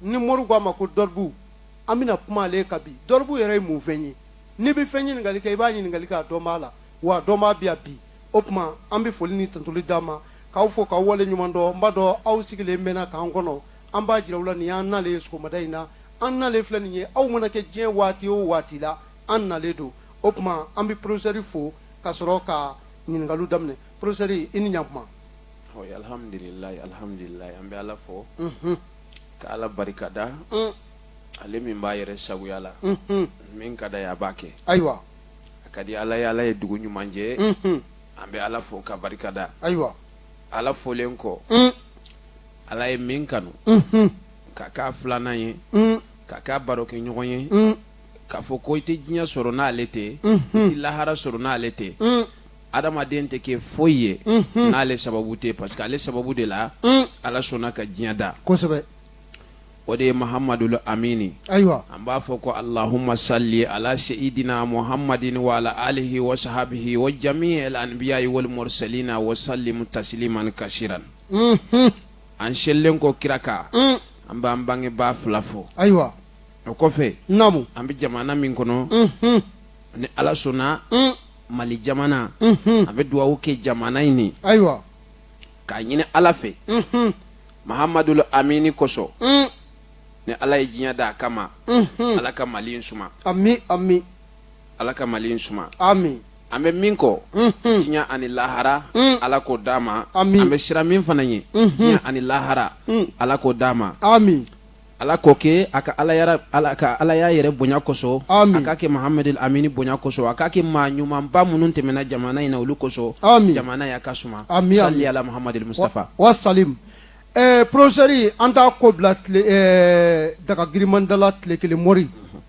ni mori ko a ma ko dɔribu an bɛna kuma ale kan bi dɔribu yɛrɛ ye mun fɛn ye n'i bɛ fɛn ɲininkali kɛ i b'a ɲininkali k'a dɔnbaa la wa dɔnbaa bɛ yan bi o tuma an bɛ foli ni tanuli d'aw ma k'aw fo k'aw wale ɲuman dɔn n b'a dɔn aw sigilen mɛnna k'an kɔnɔ an b'a jira aw la ni an nalen ye sɔgɔmada in na an nalen filɛ nin ye aw mana kɛ diɲɛ waati o waati la an nalen don o tuma an bɛ professeur fo ka sɔrɔ ka ɲininkaliw daminɛ professeur i ni ɲ kuma Alihamdulilahi alihamdulilahi an bɛ ala fo ka ala barikada ale min b'a yɛrɛ sagoya la min ka d'a ye a b'a kɛ ayiwa a ka di ala ye ala ye dugu ɲuman jɛ an bɛ ala fo k'a barikada ayiwa ala folen kɔ ala ye min kanu k'a k'a filanan ye k'a k'a barokɛɲɔgɔn ye k'a fɔ ko i tɛ diɲɛ sɔrɔ n'ale tɛ i tɛ lahara sɔrɔ n'ale tɛ adamaden tɛ kɛ foyi ye n'ale sababu tɛ parce que ale sababu de la ala sɔnna ka diɲɛ da kosɛbɛ o de ye mahamadul amini ayiwa an b'a fɔ ko alahuma sali ala seyidina mahamadin wa ala alihi wa sahabihi wa jamiil anbiyai wal mursalina wa salim tasliman kasiran an selilen kɔ kira kan an b'an bangebaa fila fo ayiwa o kɔfɛ namu an bɛ jamana min kɔnɔ ni ala sɔnna mali jamana an bɛ dugawu kɛ jamana in ayiwa k'a ɲini ala fɛ mahamadul amini kosɔn ni ala ye diɲɛ da a kama ala ka mali in suma aami ala ka mali in suma aami an bɛ min kɔ diɲɛ ani lahara ala k'o d'an ma an bɛ siran min fana ye diɲɛ ani lahara ala k'o d'an ma Ala k'o kɛ a ka Alaya a ka Alaya yɛrɛ bonya kosɔn aami a k'a kɛ Mahamadul Amini bonya kosɔn a k'a kɛ maa ɲumanba minnu tɛmɛna jamana in na olu kosɔn aami jamana in a ka suma aami ami sali ala Mahamadil mustafa wa wa salim ɛɛ professeur an t'a ko bila tile ɛɛ daga giriman da la tile 1 mori unhun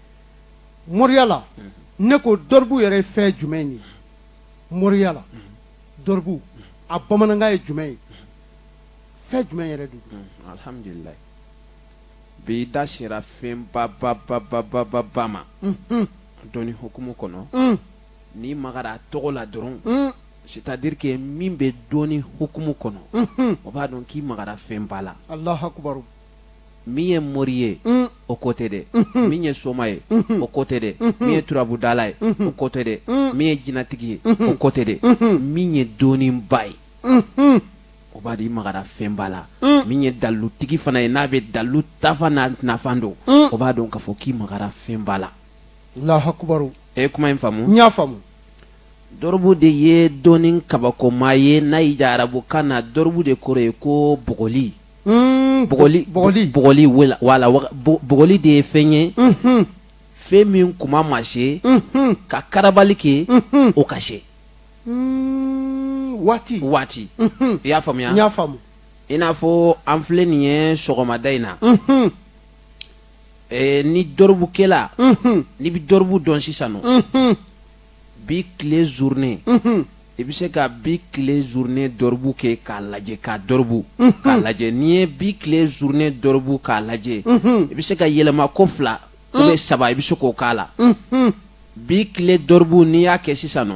moriya la unhun ne ko dɔribu yɛrɛ ye fɛn jumɛn ye moriya la unhun dɔribu a bamanankan ye jumɛn ye unhun fɛn jumɛn yɛrɛ de don unhun alhamdulilahi bi i da sera fɛn ba ba ba ba ba ba ba ma dɔnni hukumu kɔnɔ n'i magara a tɔgɔ la dɔrɔn c'est-à-dire que min bɛ dɔnni hukumu kɔnɔ o b'a dɔn k'i magara fɛn ba la alahu akbaru min ye mori ye o ko tɛ dɛ min ye soma ye o ko tɛ dɛ min ye turabudala ye o ko tɛ dɛ min ye jinatigi ye o ko tɛ dɛ min ye dɔnnibaa ye O b'a dɔn i magara fɛn ba la min ye dalutigi fana ye n'a bɛ dalu tafa n'a nafan dɔn o b'a dɔn k'a fɔ k'i magara fɛn ba la Allahu akbar e ye kuma in faamu n y'a faamu dɔrɔbu de ye dɔnni kabakoma ye n'a ye ja arabukan na dɔrɔbu de kɔrɔ ye ko bɔgɔli bɔgɔli de ye fɛn ye fɛn min kuma ma se ka karabali kɛ o ka se Hmm, waati waati mhm. i y'a faamuya n y'a faamu i n'a fɔ an filɛ nin ye sɔgɔmada in na mhm. eh, ni dɔrɔbukɛla mhm. n'i bɛ dɔrɔbu dɔn sisan nɔ bi tile journée i bɛ se ka bi tile journée dɔrɔbu kɛ k'a lajɛ k'a dɔrɔbu k'a lajɛ n'i ye bi tile journée dɔrɔbu k'a lajɛ i bɛ se ka yɛlɛma ko fila ou bien saba i bɛ se k'o k'a la bi tile dɔrɔbu n'i y'a kɛ sisan nɔ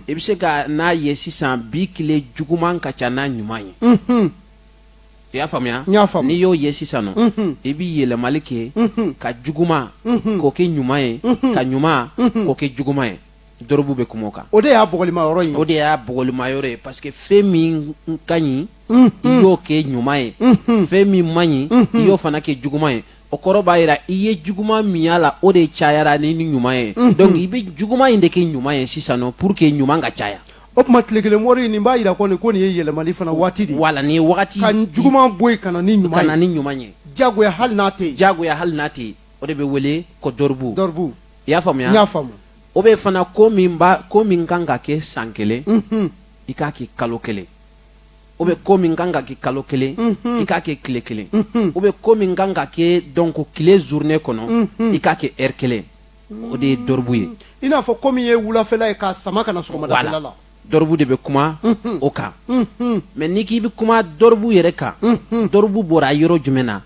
i bɛ se ka n'a ye sisan bi tile juguman ka ca n'a ɲuman ye i y'a faamuya n'i y'o ye sisan nɔ i bɛ yɛlɛmali kɛ ka juguman k'o kɛ ɲuman ye ka ɲuman k'o kɛ juguman ye dɔrɔbu bɛ kuma o kan o de y'a bɔgɔlima yɔrɔ o de y'a bɔgɔlima yɔrɔ ye parce que fɛn min ka ɲi i y'o kɛ ɲuman ye fɛn min man ɲi i y'o fana kɛ juguman ye o kɔrɔ b'a jira i ye juguman min y'a la o de cayara ni ni ɲuman ye donc i bɛ juguman in de kɛ ɲuman ye sisan nɔ pour que ɲuman ka caya o tuma tile kelen mori nin b'a jira ko nin ko nin ye yɛlɛmali fana waati de ye wala nin ye wagati ka juguman bɔ yen ka na ni ɲuman ka na ni ɲuman ye jagoya hali n'a tɛ yen jagoya hali n'a tɛ yen o de bɛ wele ko dɔrɔbu dɔrɔbu i y'a faamuya n y'a faamu ou bien fana ko min ba ko min kan ka kɛ san kelen i k'a kɛ kalo kelen ou bien ko min kan ka kɛ kalo kelen i k'a kɛ tile kelen ou bien ko min kan ka kɛ donc tile journée kɔnɔ i k'a kɛ eri kelen o de ye dɔrɔbu ye i n'a fɔ ko min ye wulafɛla ye k'a sama ka na sɔgɔmadafɛla la dɔrɔbu de bɛ kuma o kan mais n'i k'i bɛ kuma dɔrɔbu yɛrɛ kan dɔrɔbu bɔra yɔrɔ jumɛn na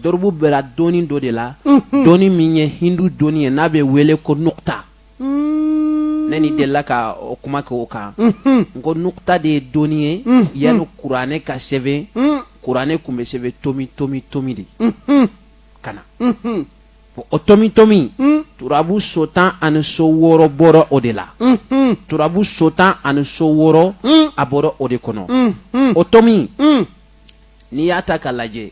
dɔrɔbu bɔra dɔnni dɔ de la dɔnni min ye hindu dɔnni ye n'a bɛ wele ko nukta ne ni delila ka o kuma kɛ o kan n ko nukta de ye dɔnni ye yanni kuranɛ ka sɛbɛn kuranɛ tun bɛ sɛbɛn tomi tomi tomi de ka na o tomi tomi turabu so tan ani so wɔɔrɔ bɔra o de la turabu so tan ani so wɔɔrɔ a bɔra o de kɔnɔ o tomi n'i y'a ta ka lajɛ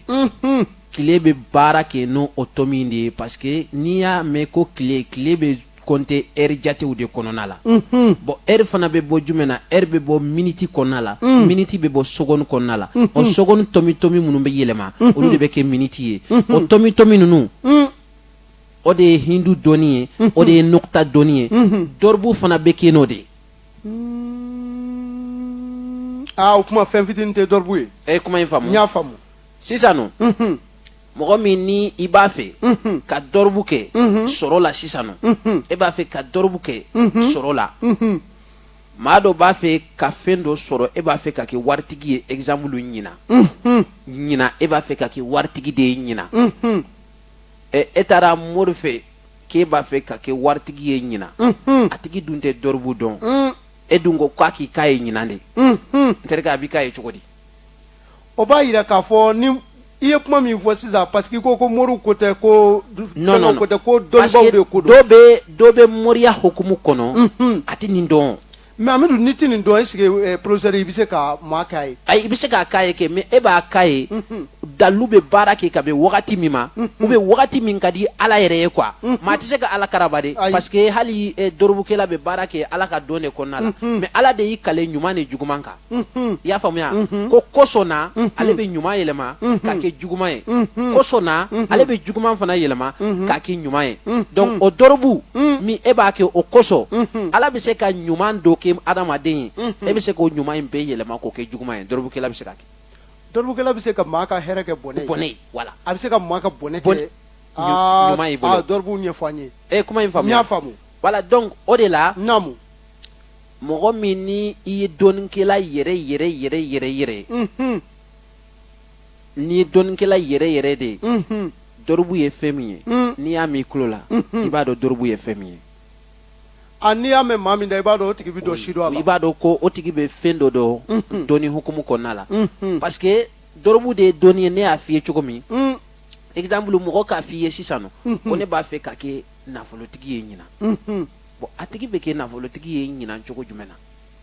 tile bɛ baara kɛ n'o tomi de ye parce que n'i y'a mɛn ko tile tile bɛ kɔnte eri jatew de kɔnɔna la bon eri fana bɛ bɔ jumɛn na eri bɛ bɔ miniti kɔnɔna la miniti bɛ bɔ segɔni kɔnɔna la o segɔni tomi tomi minnu bɛ yɛlɛma olu de bɛ kɛ miniti ye o tomi tomi ninnu o de ye hindu dɔnni ye o de ye nukta dɔnni ye dɔrɔbu fana bɛ kɛ n'o de ye Aa o kuma fɛn fitinin tɛ dɔrɔbu ye e kuma in faamu n y'a faamu sisan nɔ mɔgɔ min ni i b'a fɛ ka dɔrɔbu kɛ sɔrɔ la sisan nɔ e b'a fɛ ka dɔrɔbu kɛ sɔrɔ la maa dɔ b'a fɛ ka fɛn dɔ sɔrɔ e b'a fɛ ka kɛ waritigi ye exemple ɲinan ɲinan e b'a fɛ ka kɛ waritigi de ye ɲinan e taara mori fɛ k'e b'a fɛ ka kɛ waritigi ye ɲinan a tigi dun tɛ dɔribu dɔn e dun ko k'a k'i k'a ye ɲinan de n terikɛ a b'i k'a ye cogo di o b'a yira k'a fɔ ni i ye kuma min fɔ sisan parce que ko ko moriw ko tɛ ko fɛnw ko tɛ ko dɔnnibaw de ko don dɔ bɛ moriya hukumu kɔnɔ a tɛ nin dɔn Mais Amadu n'i tɛ nin dɔn est-ce que professeur i bɛ se ka maa k'a ye ayi i bɛ se k'a k'a ye kɛ mais e b'a k'a ye dalu bɛ baara kɛ ka bɛn wagati min ma ou bien wagati min ka di ala yɛrɛ ye quoi maa tɛ se ka ala karaba de parce que hali dɔrɔbukɛla bɛ baara kɛ ala ka dɔn de kɔnɔna la mais ala de y'i kale ɲuman ni juguman kan i y'a faamuya ko kosɔn na ale bɛ ɲuman yɛlɛma k'a kɛ juguman ye kosɔn na ale bɛ juguman fana yɛlɛma k'a kɛ ɲuman ye donc o dɔrɔbu min e b'a kɛ o kosɔn ala bɛ se ka ɲuman dɔ kɛ adamaden ye e bɛ se k'o ɲuman in bɛɛ yɛlɛma k'o kɛ juguman ye dɔrɔbukɛla bɛ se ka kɛ dɔrɔbukɛla bɛ se ka maa ka hɛrɛ kɛ bɔnɛ ye bɔnɛ ye voilà a bɛ se ka maa ka bɔnɛ Bɔnɛ. kɛ aa, ɲuman y'i bolo. aa, dɔrɔbuw ɲɛfɔ an ye e kuma in faamu n y'a faamu voilà donc o de la naamu mɔgɔ min ni i ye dɔnnikɛla yɛrɛ yɛrɛ yɛrɛ yɛrɛ yɛrɛ n'i ye dɔnnikɛla yɛrɛ yɛrɛ de ye dɔrɔbu ye fɛn min ye n'i y'a mɛn i tulo la i b'a dɔn dɔrɔbu ye fɛn min ye a n'i y'a mɛn maa min da i b'a dɔn o tigi bɛ dɔ sidɔn a la i b'a dɔn ko o tigi bɛ fɛn dɔ dɔn dɔnni hukumu kɔnɔna la parce que dɔrɔbu de ye dɔnni ye ne y'a f'i ye cogo min exemple mɔgɔ k'a f'i ye sisan nɔ ko ne b'a fɛ ka kɛ nafolotigi ye ɲina bon a tigi bɛ kɛ nafolotigi ye ɲinan cogo jumɛn na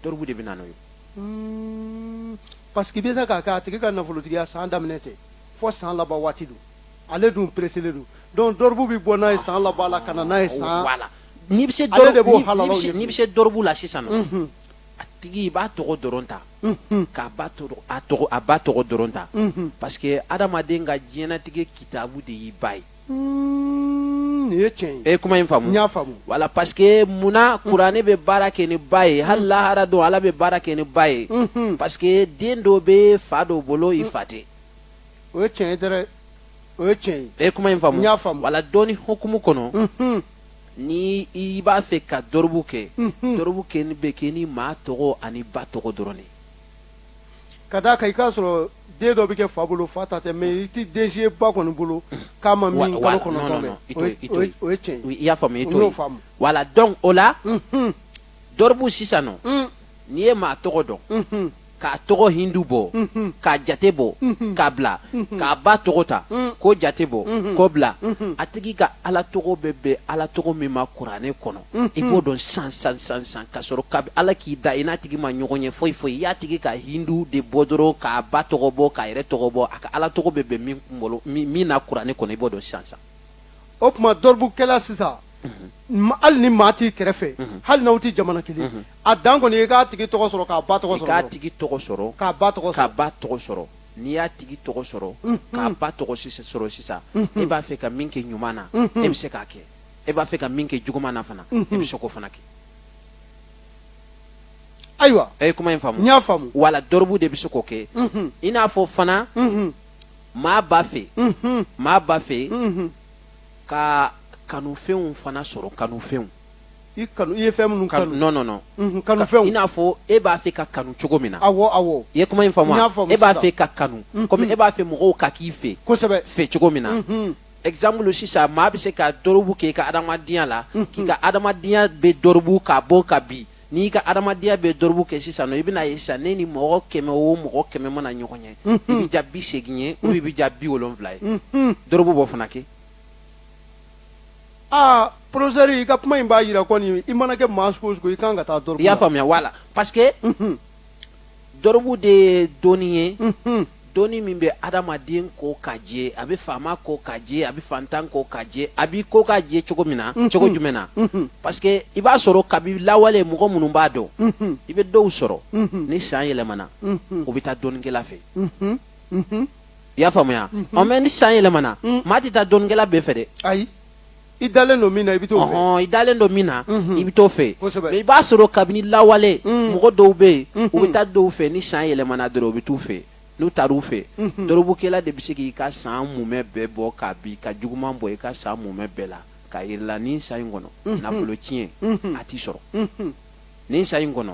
dɔrɔbu de bɛ na n'o ye hmm, parce que i bɛ se k'a kɛ a tigi ka nafolotigiya san daminɛ tɛ fo san laban waati don ale dun pereselen don donc dɔribu bɛ bɔ n'a ye san laban la ka na n'a ye san n'i bɛ se n'i bɛ se dɔribu la sisan nɔ mhm. a tigi i b'a tɔgɔ dɔrɔn ta mhm. k'a ba a ba tɔgɔ dɔrɔn ta mhm. parce que adamaden ka diɲɛnatigɛ kitabu de y'i ba ye Nin ye tiɲɛ ye kuma in faamu y'a faamu voilà parce que munna kuranɛ bɛ baara kɛ ni ba ye hali lahara don ala bɛ baara kɛ ni ba ye parce que den dɔ bɛ fa dɔ bolo i fa tɛ o ye tiɲɛ ye o ye tiɲɛ ye kuma in faamu y'a faamu voilà dɔnni hukumu kɔnɔ ni i b'a fɛ ka dɔrɔbu kɛ dɔrɔbu kɛ bɛ kɛ ni maa tɔgɔ ani ba tɔgɔ dɔrɔn ka d'a kan i k'a sɔrɔ den dɔ bɛ kɛ fa bolo fa ta tɛ mais i tɛ den si ye ba kɔni bolo k'a ma min kalo kɔnɔntɔn bɛ o ye tiɲɛ ye i y'a faamu i t'o ye voilà donc o la dɔribu sisan nɔ n'i ye maa tɔgɔ dɔn k'a tɔgɔ hindu bɔ k'a jate bɔ k'a bila k'a ba tɔgɔ ta k'o jate bɔ k'o bila a tigi ka ala tɔgɔ bɛ bɛn ala tɔgɔ min ma kuranɛ kɔnɔ i b'o dɔn san san san san ka sɔrɔ kabi ala k'i da i n'a tigi ma ɲɔgɔn ye foyi foyi i y'a tigi ka hindu de bɔ dɔrɔn k'a ba tɔgɔ bɔ k'a yɛrɛ tɔgɔ bɔ a ka ala tɔgɔ bɛ bɛn min bolo min na kuranɛ kɔnɔ i b'o dɔn san san o tuma dɔribukɛla sisan hali ni maa t'i kɛrɛfɛ hali n'aw tɛ jamana kelen a dan kɔni i k'a tigi tɔgɔ sɔrɔ k'a ba tɔgɔ sɔrɔ k'a tigi tɔgɔ sɔrɔ k'a ba tɔgɔ k'a ba tɔgɔ sɔrɔ n'i y'a tigi tɔgɔ sɔrɔ k'a ba tɔgɔ sɔrɔ sisan i b'a fɛ ka min kɛ ɲuman na e bɛ se k'a kɛ e b'a fɛ ka min kɛ juguman na fana e bɛ se k'o fana kɛ ayiwa e ye kuma in faamu n y'a faamu voilà dɔrɔbu de bɛ se k'o kɛ i n'a fɔ fana maa b'a fɛ maa b'a fɛ ka kanufɛnw fana sɔrɔ kanufɛnw i kanu i ye fɛn minnu kanu non non non unhun kanufɛnw i n'a fɔ e b'a fɛ ka kanu cogo min na awɔ awɔ i ye kuma in faamu wa n y'a faamu sisan e b'a fɛ ka kanu comme e b'a fɛ mɔgɔw ka k'i fɛ kosɛbɛ fɛ cogo min na unhun exemple sisan maa bɛ se ka dɔrɔbu kɛ i ka adamadenya la k'i ka adamadenya bɛɛ dɔrɔbu k'a bɔ k'a bin n'i ka adamadenya bɛɛ dɔrɔbu kɛ sisan nɔ i bɛna ye sisan ne ni mɔgɔ kɛmɛ o mɔgɔ kɛmɛ mana ɲɔgɔn ye i bɛ diya bi segin ye ou bien i bɛ diya bi wolonwula ye dɔrɔbu b'o fana kɛ aa professeur i ka kuma in b'a yira kɔni i mana kɛ maa sugu o sugu ye i ka kan ka taa dɔrɔbu la i y'a faamuya voilà parce que dɔrɔbu de ye dɔnni ye dɔnni min bɛ adamaden ko ka jɛ a bɛ faama ko ka jɛ a bɛ fantan ko ka jɛ a b'i ko ka jɛ cogo min na cogo jumɛn na parce que i b'a sɔrɔ kabi lawale mɔgɔ minnu b'a dɔn i bɛ dɔw sɔrɔ ni san yɛlɛmana o bɛ taa dɔnnikɛla fɛ i y'a faamuya mais ni san yɛlɛmana maa tɛ taa dɔnnikɛla bɛɛ fɛ dɛ ayi i dalen don min na i bɛ t'o fɛ ɔhɔn i dalen don min na i bɛ t'o fɛ kosɛbɛ mais i b'a sɔrɔ kabini lawale mɔgɔ dɔw bɛ yen u bɛ taa dɔw fɛ ni san yɛlɛmana dɔrɔn u bɛ t'u fɛ n'u taara u fɛ dɔrɔbukɛla de bɛ se k'i ka san mumɛ bɛɛ bɔ k'a bin ka juguman bɔ i ka san mumɛ bɛɛ la k'a yir'i la nin san in kɔnɔ nafolo tiɲɛ a t'i sɔrɔ nin san in kɔnɔ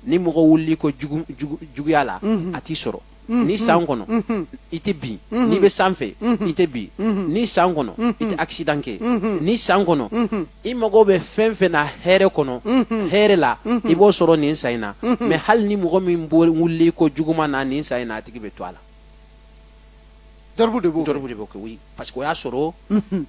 ni mɔgɔ wulil'i kɔ jugu- jugu- juguya la a t'i sɔrɔ nin san kɔnɔ i tɛ bin n'i bɛ sanfɛ i tɛ bin nin san kɔnɔ i tɛ accident kɛ nin san kɔnɔ i mago bɛ fɛn fɛn na hɛrɛ kɔnɔ hɛrɛ la i b'o sɔrɔ nin san in na mais hali ni mɔgɔ min wulil'i kɔ juguman na nin san in na a tigi bɛ to a la dɔrɔbu de b'o kɛ parce que o y'a sɔrɔ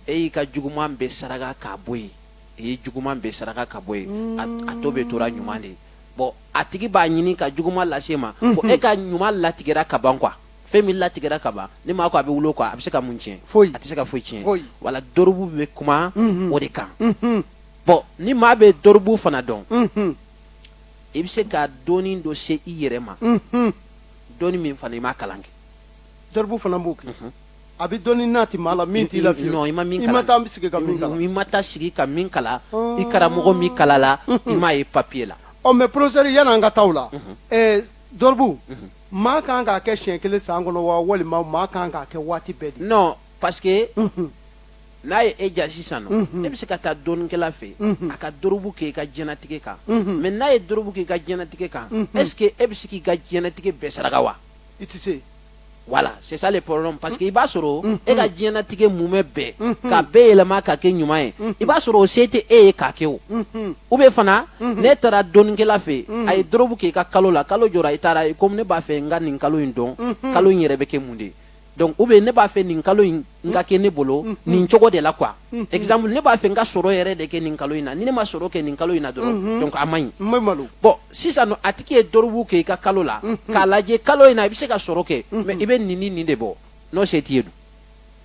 e y'i ka juguman bɛɛ saraka k'a bɔ yen e ye juguman bɛɛ saraka k'a bɔ yen a tɔ bɛɛ tora ɲuman de bɔn a tigi b'a ɲini ka juguma lase ma bon e ka ɲuman latigɛra ka ban quoi fɛn min latigɛra ka ban ni maa ko a bɛ wolo quoi a bɛ se ka mun tiɲɛ foyi a tɛ se ka foyi tiɲɛ voilà dɔrɔbu bɛ kuma o de kan bon ni maa bɛ dɔrɔbu fana dɔn i bɛ se ka dɔnni dɔ se i yɛrɛ ma dɔnni min fana i m'a kalan kɛ dɔrɔbu fana b'o kɛ a bɛ dɔnni nati maa la min t'i la i ma min ma taa bɛ sigi ka min i ma taa sigi ka min kalan i karamɔgɔ m'i kalan a la i m'a ye papier la ɔ mais professeur yann'an ka taa o la dɔrɔbu maa kan k'a kɛ siɲɛ kelen san kɔnɔ wa walima maa kan k'a kɛ waati bɛɛ de non parce que n'a ye e diya sisan nɔ e bɛ se ka taa dɔnnikɛla fɛ a ka dɔrɔbu kɛ i ka diɲɛlatigɛ kan mais n'a ye dɔrɔbu kɛ i ka diɲɛlatigɛ kan est-ce que e bɛ se k'i ka diɲɛlatigɛ bɛɛ saraka wa i tɛ se voilà c'est ça le problème parce que i b'a sɔrɔ e ka diɲɛlatigɛ mumɛ bɛɛ k'a bɛɛ yɛlɛma k'a kɛ ɲuman ye i b'a sɔrɔ o se tɛ e ye k'a kɛ ou bien fana ne taara dɔnnikɛla fɛ a ye dɔrɔbu k'i ka kalo la kalo jɔra i taara i ko ne b'a fɛ n ka nin kalo in dɔn kalo in yɛrɛ bɛ kɛ mun de donc ou bien ne b'a fɛ nin kalo in n ka kɛ ne bolo mm, mm. nin cogo de la quoi mm, exemple ne b'a fɛ n ka sɔrɔ yɛrɛ de kɛ nin kalo in na ni ne ma sɔrɔ kɛ nin kalo in na dɔrɔn mm-hmm. donc a man ɲi bon sisan a tigi ye dɔrɔbu kɛ i ka kalo la mm-hmm. k'a lajɛ kalo in na i bɛ se ka sɔrɔ kɛ mm-hmm. mais i bɛ nin ni nin de bɔ n'o se t'i ye dun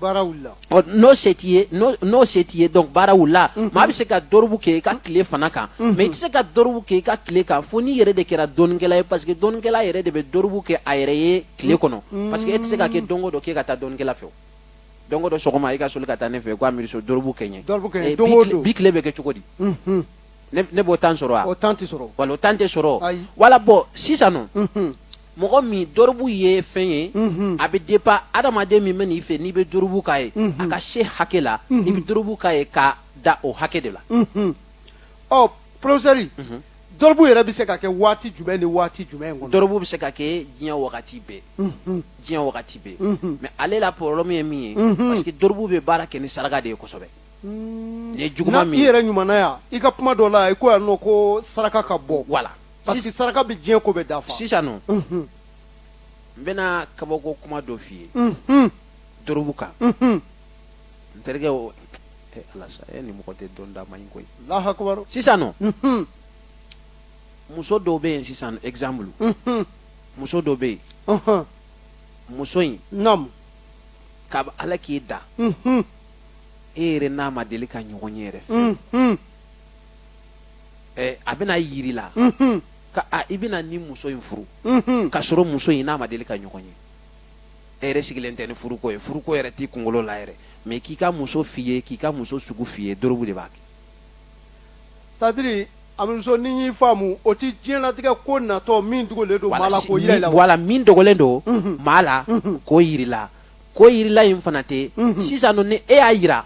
baara wulila n'o se t'i ye n'o se t'i ye donc baara wulila maa bɛ se ka dɔrɔbu kɛ i ka tile fana kan mais i tɛ se ka dɔrɔbu kɛ i ka tile kan fo n'i yɛrɛ de kɛra dɔnnikɛla ye parce que dɔnnikɛla yɛrɛ de bɛ dɔrɔbu kɛ a yɛrɛ ye tile kɔnɔ parce que e tɛ se ka kɛ don o don k'e ka taa dɔnnikɛla fɛ don o don sɔgɔma e ka soli ka taa ne fɛ k'a mi dɔrɔbu kɛ n ye bi tile bɛ kɛ cogo di ne b'o temps sɔrɔ wa o temps tɛ sɔrɔ temps tɛ sɔrɔ voilà bon sisan nɔ mɔgɔ min dɔrɔbu ye fɛn ye a bɛ dépend adamaden min bɛ n'i fɛ n'i bɛ dɔrɔbu k'a ye a ka se hakɛ la i bɛ dɔrɔbu k'a ye k'a da o hakɛ de la ɔ professeur dɔrɔbu yɛrɛ bɛ se ka kɛ waati jumɛn ni waati jumɛn kɔnɔ dɔrɔbu bɛ se ka kɛ diɲɛ wagati bɛɛ diɲɛ wagati bɛɛ mais ale la problème ye min ye parce que dɔrɔbu bɛ baara kɛ ni saraka de ye kosɛbɛ ni juguman min i yɛrɛ ɲuman yan i ka kuma dɔ la i ko yan nɔ ko saraka ka bɔ voilà parce que saraka bɛ diɲɛ ko bɛɛ dafa sisan nɔ n bɛna kabako kuma dɔ f'i ye dɔrɔbu kan n terikɛ o e ala sa e ni mɔgɔ tɛ dɔn d'a ma in koyi Allahu akbar sisan nɔ muso dɔw bɛ yen sisan exemple muso dɔ bɛ yen muso in naamu ka ala k'i da e yɛrɛ n'a ma deli ka ɲɔgɔn ye yɛrɛ fɛ a bɛna jira i la ka i bɛna nin muso in furu ka sɔrɔ muso in n'a ma deli ka ɲɔgɔn ye e yɛrɛ sigilen tɛ ni furuko ye furuko yɛrɛ t'i kunkolo la yɛrɛ mais k'i ka muso f'i ye k'i ka muso sugu f'i ye dɔrɔbu de b'a kɛ c'est-à-dire a muso n y'i faamu o tɛ diɲɛlatigɛ ko natɔ min dogolen don maa la k'o yira i la voilà min dogolen don maa la k'o yira i la ko yirila in fana tɛ sisan nɔ ni e y'a yira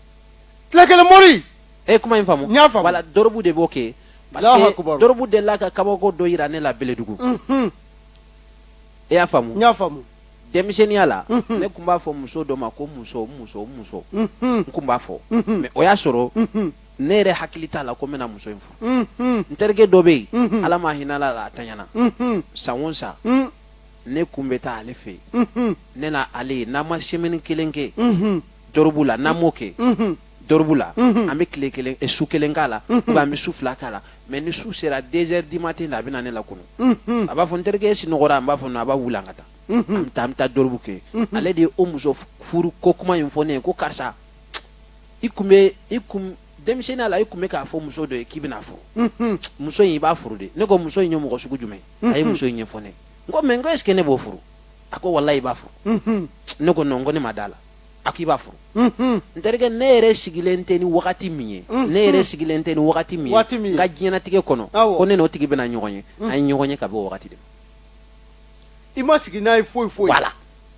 tile kelen mori e ye kuma in faamu n y'a faamu voilà dɔrɔbu de b'o kɛ parce que dɔrɔbu delila ka kabako dɔ yira ne la beledugu e y'a faamu n y'a faamu denmisɛnninya la ne kun b'a fɔ muso dɔ ma ko muso n muso n muso n kun b'a fɔ mais o y'a sɔrɔ ne yɛrɛ hakili t'a la ko n bɛna muso in furu n terikɛ dɔ bɛ yen ala ma hinɛ a la a taɲana san o san ne kun bɛ taa ale fɛ yen ne na ale ye n'an ma semaine kelen kɛ dɔrɔbu la n'an m'o kɛ dɔrɔbu la an bɛ tile kelen su kelen k'a la ou bien an bɛ su fila k'a la mais ni su sera deux heures du matin a bɛ na ne lakunun a b'a fɔ n terikɛ e sunɔgɔra n b'a fɔ non a b'a fɔ wuli an ka taa an bɛ taa an bɛ taa dɔrɔbu kɛ yen ale de ye o muso furu ko kuma in fɔ ne ye ko karisa i kun bɛ i kun denmisɛnninya la i kun bɛ k'a fɔ muso dɔ ye k'i bɛn'a furu muso in i b'a furu dɛ ne ko muso in ye mɔgɔ sugu jumɛn ye a ye muso in ɲɛfɔ ne ye n ko mais n ko est ce que ne b'o furu a ko walahi i b'a furu ne ko non n ko ne ma d'a la a k'i b'a furu n terikɛ ne yɛrɛ sigilen tɛ ni wagati min ye ne yɛrɛ sigilen tɛ ni wagati min ye ka diɲɛnatigɛ kɔnɔ ko ne n'o tigi bɛna ɲɔgɔn ye an ye ɲɔgɔn ye ka bɛn wagati de ma i ma sigi n'a ye foyi foyi voilà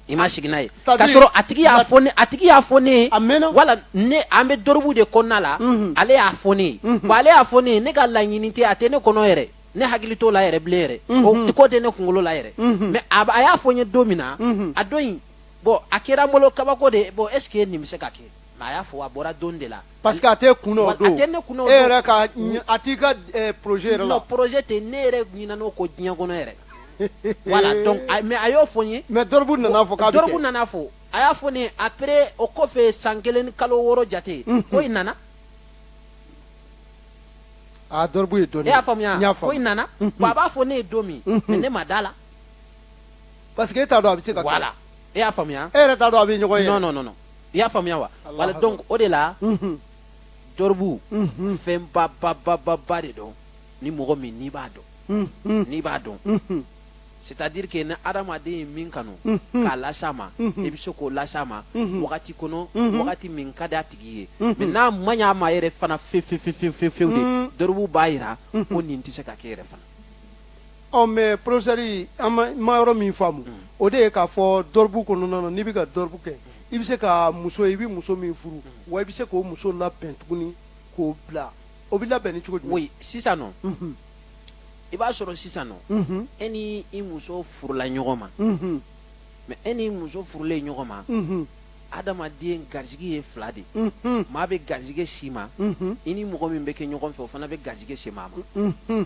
i ma sigi n'a ye k'a sɔrɔ a tigi y'a fɔ a tigi y'a fɔ ne ye voilà ne an bɛ dɔrɔbu de kɔnɔna la ale y'a fɔ ne ye bon ale y'a fɔ ne ye ne ka laɲini tɛ a tɛ ne kɔnɔ yɛrɛ ne hakili t'o la yɛrɛ bilen yɛrɛ ko tɛ ne kunkolo la yɛrɛ mais a y'a fɔ n ye don min na a don bon a kɛra n bolo kabako de ye bon est ce que nin bɛ se ka kɛ mais a y'a fɔ a bɔra don de la parce que a tɛ kun o don a tɛ ne kun o don e yɛrɛ ka a t'i ka eh, projet yɛrɛ la non projet tɛ ne yɛrɛ ɲinan'o kɔ diɲɛ kɔnɔ yɛrɛ voilà donc mais a y'o fɔ n ye mais dɔrɔbu nan'a fɔ k'a bɛ kɛ dɔrɔbu nan'a fɔ a y'a fɔ ne ye après o kɔfɛ san kelen ni kalo wɔɔrɔ jate ko in nana a dɔrɔbu ye dɔɔnin e y'a faamuya ko in nana bon a b'a fɔ ne ye don min mais ne ma d'a la parce que e t'a dɔn a bɛ se ka kɛ voilà e y'a faamuya e yɛrɛ t'a dɔn a bɛ ɲɔgɔn ye non non i y'a faamuya wa voilà donc o de la dɔrɔbu fɛn ba ba ba ba ba de don ni mɔgɔ min n'i b'a dɔn n'i b'a dɔn c'est-à-dire que ni adamaden ye min kanu k'a las'a ma i bɛ se k'o las'a ma wagati kɔnɔ wagati min ka di a tigi ye mais n'a ma ɲ'a ma yɛrɛ fana fewu fewu de dɔrɔbu b'a yira ko nin tɛ se ka kɛ yɛrɛ fana Ɔ mais professeur an ma yɔrɔ min faamu o de ye k'a fɔ dɔrɔbu kɔnɔna na n'i bɛ ka dɔrɔbu kɛ i bɛ se ka muso i bɛ muso min furu wa i bɛ se k'o muso labɛn tuguni k'o bila o bɛ labɛn ni cogo jumɛn sisan nɔ i b'a sɔrɔ sisan nɔ e ni i muso furula ɲɔgɔn ma mais e ni muso furulen ɲɔgɔn ma adamaden garisɛgɛ ye fila de ye maa bɛ garisɛgɛ si ma i ni mɔgɔ min bɛ kɛ ɲɔgɔn fɛ o fana bɛ garisɛgɛ si ma ma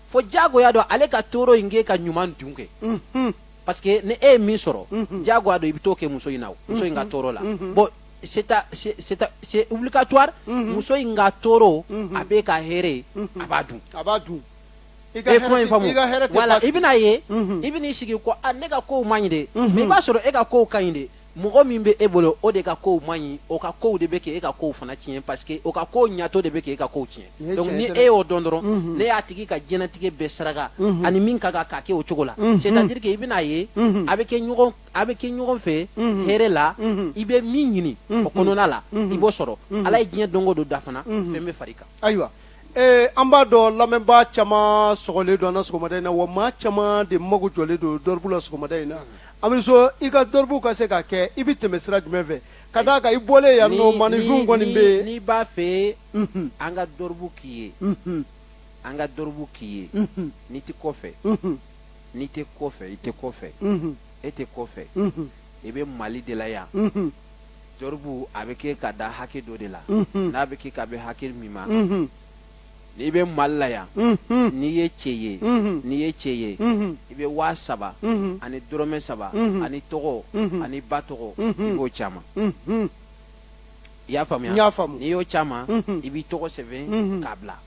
fo jagoya don ale ka tɔɔrɔ in k'e ka ɲuman dun kɛ parce que ni e ye min sɔrɔ jagoya don i bɛ to kɛ muso in na muso in ka tɔɔrɔ la bon c'est obligatoire muso in ka tɔɔrɔ a b'e ka hɛrɛ a b'a dun a b'a dun voilà i bɛn'a ye i bɛn'i sigi ko ne ka kow man ɲi de mais i b'a sɔrɔ e ka kow ka ɲi de mɔgɔ min bɛ e bolo o de ka kow man ɲi o ka kow de bɛ kɛ e ka kow fana tiɲɛ parce que o ka kow ɲɛtɔ de bɛ kɛ e ka kow tiɲɛ donc ni e y'o dɔn dɔrɔn ne y'a tigi ka diɲɛlatigɛ bɛɛ saraka ani min ka kan k'a kɛ o cogo la c'est à dire que i bɛn'a ye a bɛ a bɛ kɛ ɲɔgɔn fɛ hɛrɛ la i bɛ min ɲini o kɔnɔna la i b'o sɔrɔ Ala ye diɲɛ don o don da fana fɛn bɛ fara i kan ayiwa Ee an b'a dɔn lamɛnbaa caman sɔgɔlen don an na sɔgɔmada in na wa maa caman de mako jɔlen don dɔrɔbu la sɔgɔmada in na an bɛ so i ka dɔrɔbu ka se ka kɛ i bɛ tɛmɛ sira jumɛn fɛ ka d'a kan i bɔlen yan nɔ maaninfinw kɔni bɛ n'i b'a fɛ an ka dɔrɔbu k'i ye an ka dɔrɔbu k'i ye n'i tɛ kɔfɛ n'i tɛ kɔfɛ i tɛ kɔfɛ e tɛ kɔfɛ i bɛ Mali de la yan Dɔrɔbu a bɛ kɛ ka da hakɛ dɔ de la n'a bɛ kɛ ka bɛn hakɛ min ma n'i bɛ Mali la yan n'i ye cɛ ye n'i ye cɛ ye i bɛ waa saba ani dɔrɔmɛ saba ani tɔgɔ ani ba tɔgɔ i b'o ci an ma i y'a faamuya y'a faamuya n'i y'o ci an ma i b'i tɔgɔ sɛbɛn k'a bila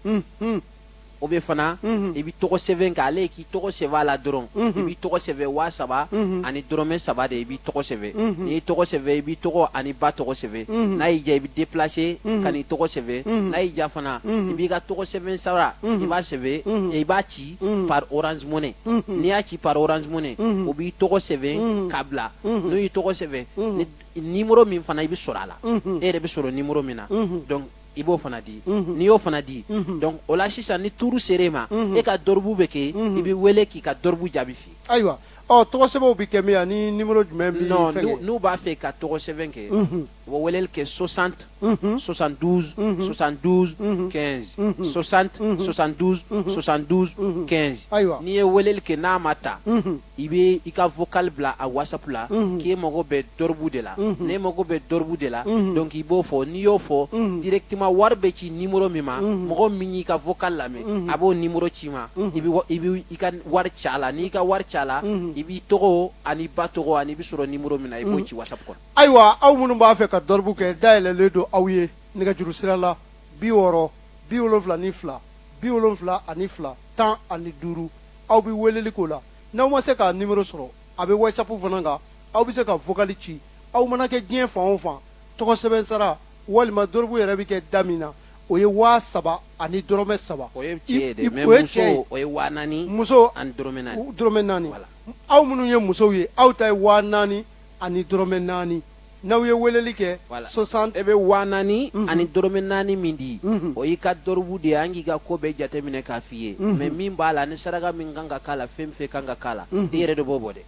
o bɛ fana i bɛ tɔgɔ sɛbɛn k'ale k'i tɔgɔ sɛbɛn a la dɔrɔn i b'i tɔgɔ sɛbɛn waa saba ani dɔrɔmɛ saba de i b'i tɔgɔ sɛbɛn n'i y'i tɔgɔ sɛbɛn i b'i tɔgɔ ani ba tɔgɔ sɛbɛn n'a y'i diya i bɛ déplacer ka n'i tɔgɔ sɛbɛn n'a y'i diya fana i b'i ka tɔgɔ sɛbɛn sara i b'a sɛbɛn i b'a ci par Orange Money n'i y'a ci par Orange Money o b'i tɔgɔ sɛbɛn k'a bila n'o y'i tɔgɔ sɛbɛn numéro min fana i bɛ sɔrɔ a la e yɛrɛ bɛ sɔrɔ numéro min na i b'o fana di n'i y'o fana di donc o la sisan ni tuuru ser'e ma e ka dɔrɔbu bɛ kɛ i bɛ wele k'i ka dɔrɔbu jaabi f'i ye ayiwa ɔ tɔgɔ sɛbɛnw bɛ kɛ min ani numéro jumɛn bɛ non fɛnkɛ n'u b'a fɛ ka tɔgɔ sɛbɛn kɛ u bɛ weleli kɛ 60 72 72 15 60 72 72 15 ayiwa n'i ye weleli kɛ n'a ma ta. i bɛ i ka vocal bila a wasapu la k'i mago bɛ dɔrɔbu de la n'e mago bɛ dɔrɔbu de la donc i b'o fɔ n'i y'o fɔ directement wari bɛ ci nimero min ma mɔgɔ min y'i ka vocal lamɛn a b'o nimero ci i ma i bɛ i ka wari ci a la n'i ka wari ci a la i b'i tɔgɔ ani ba tɔgɔ ani i bɛ sɔrɔ nimero min na i b'o ci wasapu kɔnɔ ayiwa aw minnu b'a fɛ ka dɔrɔbu kɛ da yɛlɛlen don aw ye nɛgɛjuru sira la bi wɔɔrɔ bi wolonwula ni fila bi wolonwula ani fila tan ani duuru aw bɛ weleli k'o la n'aw ma se k'a nimero sɔrɔ a bɛ wasapu fana kan aw bɛ se ka vocal ci aw mana kɛ diɲɛ fan o fan tɔgɔ sɛbɛn sara walima dɔrɔbu yɛrɛ bɛ kɛ da min na o ye waa saba ani dɔrɔmɛ saba muso dɔrɔmɛ naani aw minnu ye musow ye aw ta ye waa naani ani dɔrɔmɛ naani n'aw ye weleli kɛ Voilà. 60 e bɛ waa naani ani dɔrɔmɛ naani min di o y'i ka dɔrɔbu de ye an k'i ka ko bɛɛ jateminɛ k'a f'i ye mais min b'a la ni saraka min kan ka k'a la fɛn fɛn kan ka k'a la i yɛrɛ de b'o bɔ dɛ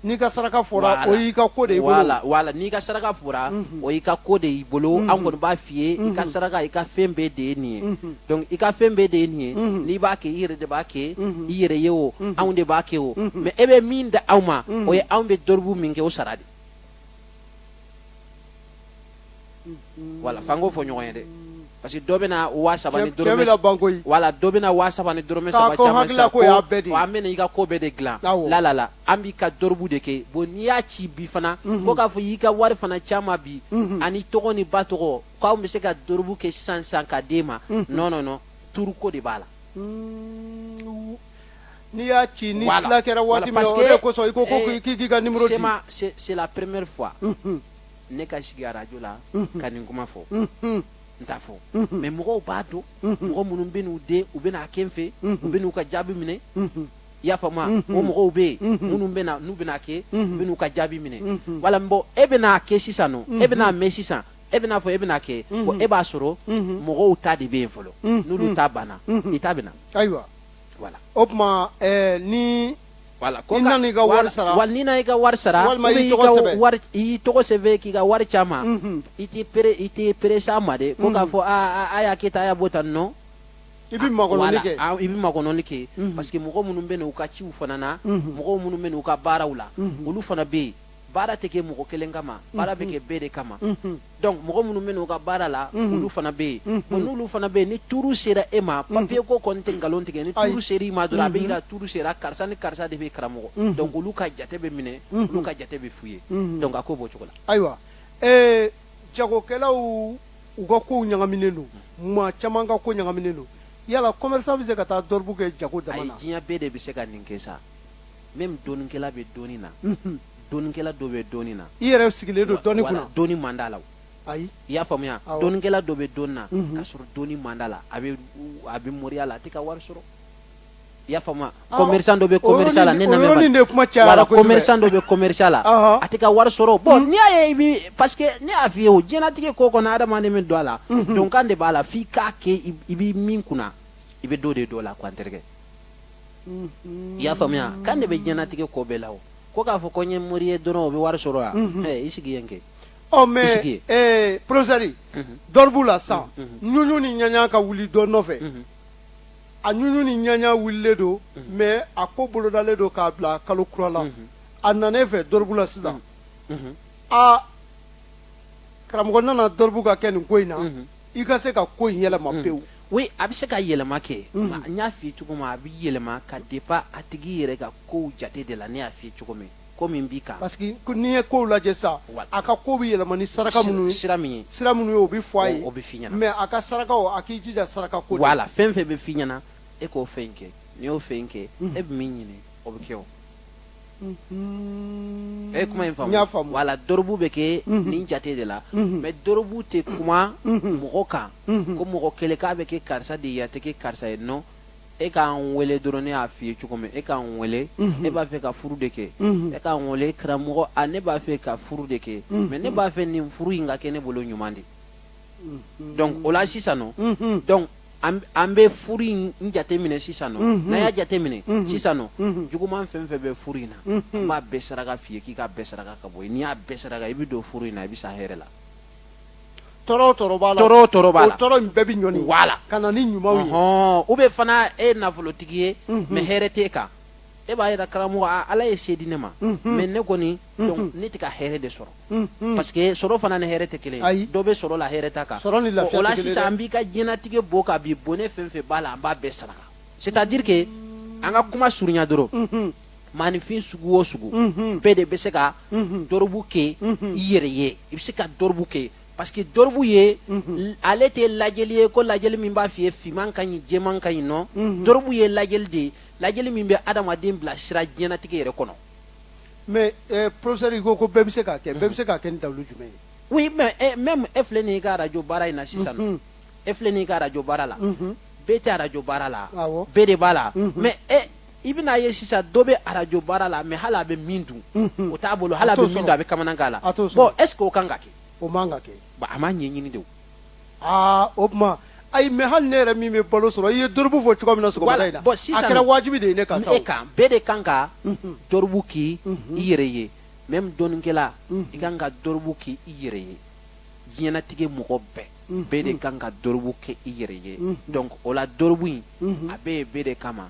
n'i ka saraka fɔra Voilà. o y'i ka ko de y'i bolo Voilà, voilà. n'i ka saraka fɔra o y'i ka ko de y'i bolo an kɔni b'a f'i ye i ka saraka i ka fɛn bɛɛ de ye nin ye donc i ka fɛn bɛɛ de ye nin ye n'i b'a kɛ i yɛrɛ de b'a kɛ i yɛrɛ ye o anw de b'a kɛ o mais e bɛ min d'anw ma o ye anw bɛ dɔrɔbu min kɛ o sara de voilà f'an k'o fɔ ɲɔgɔn ye dɛ parce que dɔ bɛna waa wala dɔ bɛna waa saba ni dɔrɔmɛ saba an bɛna i ka ko bɛɛ de dilan lalala an b'i ka dɔrɔbu de kɛ bon n'i y'a ci bi fana ko k'a fɔ i y'i ka wari fana ci an ma bi an'i tɔgɔ n'i ba tɔgɔ k' anw bɛ se ka dɔrɔbu kɛ sisan sisan k'a d'e ma non non non tuuruko de b'a la n'i y'a ci ni tila kɛra waati min na o de kosɔn i ko c'est la première fois ne ka sigi arajo la ka nin kuma fɔ n t'a fɔ mais mɔgɔw b'a dɔn mɔgɔ minnu bɛ n'u den u bɛn'a kɛ n fɛ u bɛ n'u ka jaabi minɛ i y'a faamu o mɔgɔw bɛ yen minnu bɛ n'u bɛn'a kɛ u bɛ n'u ka jaabi minɛ wala bon e bɛn'a kɛ sisan e bɛn'a mɛn sisan e bɛn'a fɔ e bɛn'a kɛ e b'a sɔrɔ mɔgɔw ta de bɛ yen fɔlɔ n'olu ta banna i ta bɛ na ayiwa o tuma n'i nana i ka wari sara wala n'i ka wari sara walima i tɔgɔ sɛbɛn k'i ka wari ci an ma i tɛ pere i tɛ presser a ma dɛ ko k'a fɔ a y'a kɛ tan a y'a bɔ tan non i bɛ i bɛ makɔnɔli kɛ parce que mɔgɔ minnu bɛ n'u ka ciw fana na mɔgɔ minnu bɛ n'u ka baaraw la olu fana bɛ yen baara tɛ kɛ mɔgɔ kelen kama baara bɛ kɛ bɛɛ de kama donc mɔgɔ minnu bɛ n'u ka baara la olu fana bɛ yen bon n'olu fana bɛ yen ni tuuru sera e ma papier ko kɔni tɛ nkalon tigɛ ni tuuru sera i ma dɔrɔn a bɛ yira tuuru sera karisa ni karisa de bɛ karamɔgɔ donc olu ka jate bɛ minɛ olu ka jate bɛ f'u ye donc a ko b'o cogo la ayiwa ee jagokɛlaw u ka kow ɲagaminen don maa caman ka ko ɲagaminen don yala commerçant bɛ se ka taa dɔribu kɛ jago dama na ayi diɲɛ bɛɛ de bɛ se ka nin kɛ sa même dɔnnikɛla bɛ dɔnni na dɔnnikɛla dɔ bɛ dɔnni na i yɛrɛ sigilen don dɔnni kunna dɔnni man d'a la ayi i y'a faamuya dɔnnikɛla dɔ bɛ dɔnni na k'a sɔrɔ dɔnni man d'a la a bɛ a bɛ moriya la a tɛ ka wari sɔrɔ i y'a faamuya commerçant dɔ bɛ commerçant la ne commerçant dɔ bɛ commerçant la a tɛ ka wari sɔrɔ bon n'i y'a ye i bɛ parce que ne y'a f'i ye o diɲɛlatigɛ ko kɔnɔ adamaden bɛ don a la donkan de b'a la f'i k'a kɛ i bɛ min kunna i bɛ dɔ de don a la quoi n terikɛ i y'a faamuya kan de bɛ diɲɛnatigɛ ko bɛɛ la o ko k'a fɔ ko n ye mori ye dɔrɔn o bɛ wari sɔrɔ yan ɛ i sigi yen kɛ ɔ mais i sigi yen. eh, professeur dɔrɔbu la sisan ɲuɲu ni ɲaɲa ka wuli dɔ nɔfɛ a ɲuɲu ni ɲaɲa wulilen don mais a ko bolodalen don k'a bila kalo kura la a nana e fɛ dɔrɔbu la sisan a karamɔgɔ nana dɔrɔbu ka kɛ nin ko in na i ka se ka ko in yɛlɛma pewu a bɛ se ka yɛlɛma kɛ n y'a f'i ye cogo min a bɛ yɛlɛma ka dépend a tigi yɛrɛ ka kow jate de la ne y'a f'i ye cogo min ko min b'i kan parce que n'i ye kow lajɛ sa a ka ko bɛ yɛlɛma ni saraka minnu ye sira min ye sira minnu ye o bɛ fɔ a ye o bɛ f'i ɲɛna mais a ka sarakaw a k'i jija saraka ko voilà fɛn fɛn bɛ f'i ɲɛna e k'o fɛn in kɛ n'i y'o fɛn in kɛ e bɛ min ɲini o bɛ kɛ o E kuma in faamu wala dɔrɔbu bɛ kɛ nin jate de la mais dɔrɔbu tɛ kuma mɔgɔ kan ko mɔgɔ kelen k'a bɛ kɛ karisa de ye a tɛ kɛ karisa ye non e k'an weele dɔrɔn ne y'a f'i ye cogo min e k'an weele e b'a fɛ ka furu de kɛ e k'an weele karamɔgɔ a ne b'a fɛ ka furu de kɛ mais ne b'a fɛ nin furu in ka kɛ ne bolo ɲuman de o la sisan nɔ donc an bɛ furu in jate minɛ sisan nɔ n'an y'a jate minɛ sisan nɔ juguman fɛn fɛn bɛ furu in na an b'a bɛɛ saraka f'i ye k'i k'a bɛɛ saraka ka bɔ yen n'i y'a bɛɛ saraka i bɛ don furu in na i bɛ sa hɛrɛ la tɔɔrɔ tɔɔrɔ b'a la tɔɔrɔ b'a la o tɔɔrɔ in bɛɛ bɛ ɲɔni wala ka na ni ɲumanw ye ou bien fana e nafolotigi ye mais hɛrɛ t'e kan e b'a yira karamɔgɔ ala ye se di ne ma mais ne kɔni donc ne tɛ ka hɛrɛ de sɔrɔ parce que sɔrɔ fana ni hɛrɛ tɛ kelen ye dɔ bɛ sɔrɔ la hɛrɛ t'a kan sɔrɔ ni lafiya o la sisan an b'i ka diɲɛlatigɛ bɔ ka bi bɔnɛ fɛn fɛn b'a la an b'a bɛɛ saraka c'est à dire que an ka kuma surunya dɔrɔn maanifin sugu o sugu bɛɛ de bɛ se ka dɔrɔbu kɛ i yɛrɛ ye i bɛ se ka dɔrɔbu kɛ parce que dɔrɔbu ye ale tɛ lajɛli ye ko lajɛli min b'a f'i ye finman ka ɲi jɛman ka ɲi non dɔrɔbu ye lajɛli de ye lajɛli min bɛ adamaden bila sira diɲɛlatigɛ yɛrɛ kɔnɔ mais professeur i ko ko bɛɛ bɛ se k'a kɛ bɛɛ bɛ se k'a kɛ ni dalu jumɛn ye oui même e filɛ nin i ka arajo baara in na sisan nɔ e filɛ nin i ka arajo baara la bɛɛ tɛ arajo baara la bɛɛ de b'a la mais i bɛna a ye sisan dɔ bɛ arajo baara la mais hali a bɛ min dun o t'a bolo hali a bɛ min dun a bɛ kamanagan la bon est ce que o ka kan ka kɛ o man kan ka kɛ bon a ma ɲɛɲini dɛ aa o tuma ayi mais hali ne yɛrɛ min bɛ balo sɔrɔ i ye dɔrɔbu fɔ cogo min na sɔgɔmada in na bon sisan a kɛra wajibi de ye ne kan sa o e kan bɛɛ de kan ka dɔrɔbu k'i yɛrɛ ye même dɔnnikɛla i kan ka dɔrɔbu k'i yɛrɛ ye diɲɛnatigɛ mɔgɔ bɛɛ bɛɛ de kan ka dɔrɔbu kɛ i yɛrɛ ye donc o la dɔrɔbu in a bɛ yen bɛɛ de kama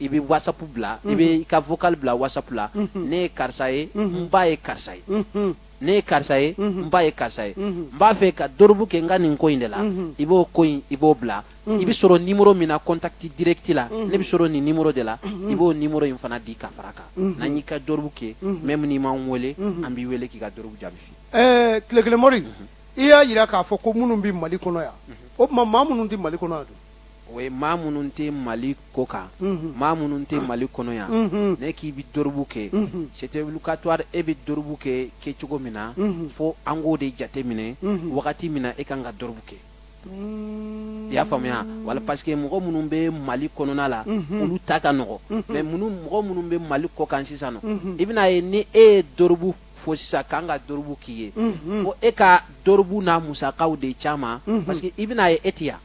i bɛ whatsapp bila i b'i ka vocal bila whatsapp la ne ye karisa ye n ba ye karisa ye ne ye karisa ye n ba ye karisa ye n b'a fɛ ka dɔrɔbu kɛ n ka nin ko in de la i b'o ko in i b'o bila i bɛ sɔrɔ numéro min na contact direct la ne bɛ sɔrɔ nin numéro de la i b'o numéro in fana di ka fara kan n'an y'i ka dɔrɔbu kɛ même n'i m'an weele an b'i weele k'i ka dɔrɔbu jaabi f'i ye tile kelen mori i y'a jira k'a fɔ ko minnu bɛ mali kɔnɔ yan o tuma maa minnu tɛ mali kɔnɔ yan o ye maa minnu tɛ mali kɔ kan maa minnu tɛ mali kɔnɔ yan n'e k'i bɛ dɔrɔbu kɛ c'est obligatoire e bɛ dɔrɔbu kɛ kɛ cogo min na fo an k'o de jate minɛ wagati min na e kan ka dɔrɔbu kɛ i y'a faamuya wala parce que mɔgɔ minnu bɛ mali kɔnɔna la olu ta ka nɔgɔn mais mɔgɔ minnu bɛ mali kɔ kan sisan nɔ i bɛna a ye ni e ye dɔrɔbu fɔ sisan k'an ka dorobu k'i ye fo e ka dorobu n'a musakaw de caman parce que i bɛna ye e tɛ yan